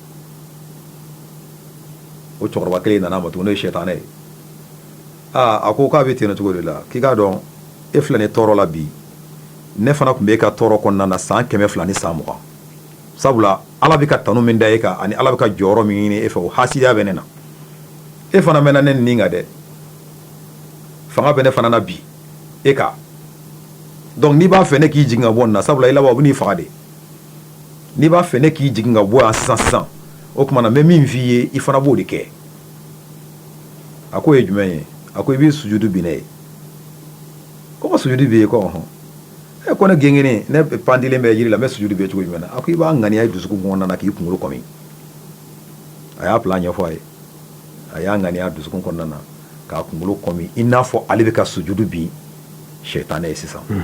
o cɛkɔrɔba kelen nana a ma tuguni n'o ye sɛtanɛ ye aa a ko k'a bɛ ten cogo de la k'i k'a dɔn e filɛ nin tɔɔrɔ la bi ne fana tun bɛ e ka tɔɔrɔ kɔnɔna na san kɛmɛ fila ni san mugan sabula ala bɛ ka tanu min da e kan ani ala bɛ ka jɔyɔrɔ min ɲini e fɛ o hasidiya bɛ ne na e fana mɛnna ne nin kan dɛ fanga bɛ ne fana na bi e kan donc n'i b'a fɛ ne k'i jigin ka bɔ nin na sabula i laban o bɛ n'i faga de n'i b'a fɛ ne k'i jigin ka bɔ yan sisan sisan o tuma na n bɛ min f'i ye i fana b'o de kɛ a k'o ye jumɛn ye a ko i b'i sujudu bin ne ye ko ka sujudu bin i ye ko ɔhɔn e ko ne gengennen ne pandilen bɛ jiri la n bɛ sujudu bin cogo jumɛn na a ko i b'a ŋaniya i dusukun kɔnɔna na k'i kunkolo kɔmi a y'a plan ɲɛfɔ a ye a y'a ŋaniya dusukun kɔnɔna na k'a kunkolo kɔmi i n'a fɔ ale bɛ ka sujudu bin sɛtanɛ ye sisan hmm.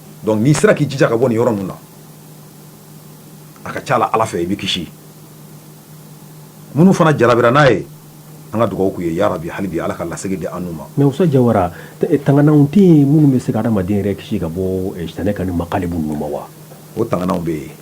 donc n'i sera k'i jija ka bɔ nin yɔrɔ ninnu na a ka ca la ala fɛ i bɛ kisi minnu fana jarabira n'a ye an ka dugawu k'u ye ya rabi hali bi ala ka lasegin di an n'u ma mais Usa Jawara tangananw tɛ yen minnu bɛ se ka hadamaden yɛrɛ kisi ka bɔ sitanɛ ka nin makalibu ninnu ma wa o tangananw bɛ yen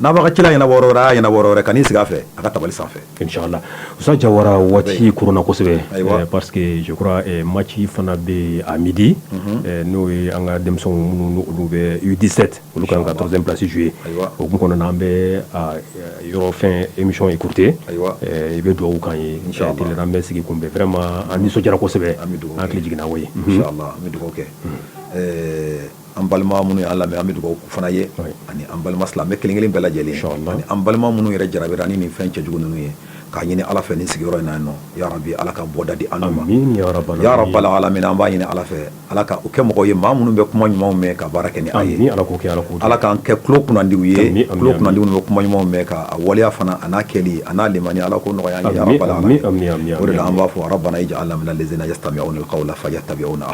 N'a bɛ ka ci la ɲɛnabɔ yɔrɔ wɛrɛ, a y'a ɲɛnabɔ yɔrɔ wɛrɛ, ka n'i sigi a fɛ, a ka tabali sanfɛ. Inchallah Usa Jawara, waati koronna kosɛbɛ. Ayiwa! Parce que je crois match fana bɛ yen à midi . Unhun! Ɛɛ n'o ye an ka denmisɛnw minnu ni olu bɛ U17 olu ka kan ka 3 ème place jouer . Ayiwa! O hukumu kɔnɔna na, an bɛ a yɔrɔ fɛn émission écourter . Ayiwa! Ɛɛ i bɛ dugawu k'an ye. Inchallah . Tile la an bɛ sigi kunbɛn. Vraiment an nisɔndiyara kosɛbɛ. An bɛ dugawu kɛ. An hakili jiginna koyi. Inchallah an bɛ dugawu kɛ. Ɛɛ an balima minnu y'an lamɛn an bɛ dugawu k'u fana ye ani an balima silamɛ kelenkelen bɛɛ lajɛlen an balima minnu yɛrɛ jarabira ni nin fɛn cɛjugu ninnu ye k'a ɲini ala fɛ nin sigiyɔrɔ in na ya rabi ala ka bɔda di an ma ya rabbal alamin an b'a ɲini ala fɛ ala k'an kɛ mɔgɔw ye maa minnu bɛ kuma ɲumanw mɛn ka baara kɛ n'a ye ala k'an kɛ tulo kunnandiw ye tulo kunnandiw bɛ kuma ɲumanw mɛn k'a waleya fana a n'a kɛli a n'a limani ala k'o nɔgɔya an ye ya rabbal alamin o de la an b'a fɔ rabbana ij'alna minal ladzina yastami'unal qawla fa yattabi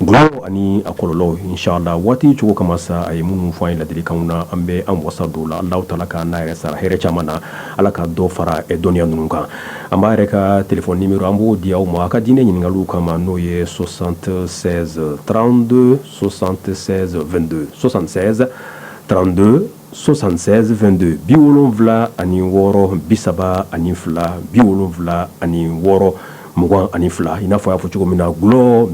Dɔlɔ ani a kɔlɔlɔw inchallah waati cogo kama sa a ye minnu fɔ an ye laadilikanw na an bɛ an wasa don o la Allahu ta'ala k'an n'a yɛrɛ sara hɛrɛ caman na ala ka dɔ fara dɔnniya ninnu kan an b'a yɛrɛ ka téléphone numéro an b'o di aw ma aw ka diinɛ ɲininkaliw kama n'o ye soixante-seize trente-deux soixante-seize vingt-deux soixante-seize trente 76 22 bi wolonwula ani wɔɔrɔ bi saba ani fila bi wolonwula ani wɔɔrɔ mugan ani fila i n'a fɔ i y'a fɔ cogo min na gulɔ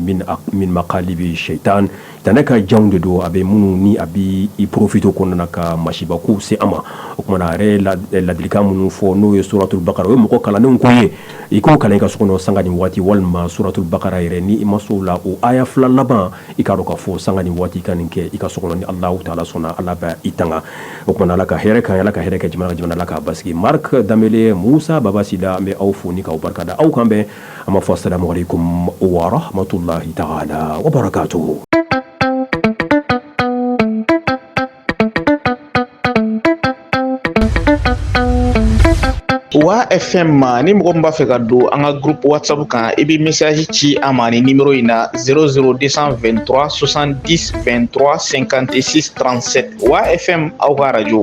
min makhalibi shaitan sitanɛ ka janw de don a bɛ minnu ni a bɛ i porofito kɔnɔna ka masiba ko se a ma o tuma na a yɛrɛ ladilikan minnu fɔ n'o ye suratul bakara o ye mɔgɔ kalannenw ko ye i k'o kalan i ka so kɔnɔ sanga ni waati walima suratul bakara yɛrɛ ni i ma se o la o aya fila laban i ka to k'a fɔ sanga ni waati ka nin kɛ i ka so kɔnɔ ni allahu taala sɔnna ala b'i tanga o tuma na ala ka hɛrɛ ka ala ka hɛrɛ kɛ jamana jamana ala k'a basigi Mark Danbele Musa Baba Sila an bɛ aw fo ni k'aw barika da aw k'an bɛn a ma fɔ assalamu aleykum wa rahmatullahi taala wabarakatuhu wa fm ma ni mɔgɔ min b'a fɛ ka don an ka groupe whatsapp kan i bɛ message ci an ma ni numero in na 00223 70 23 56 37 wa fm aw ka radio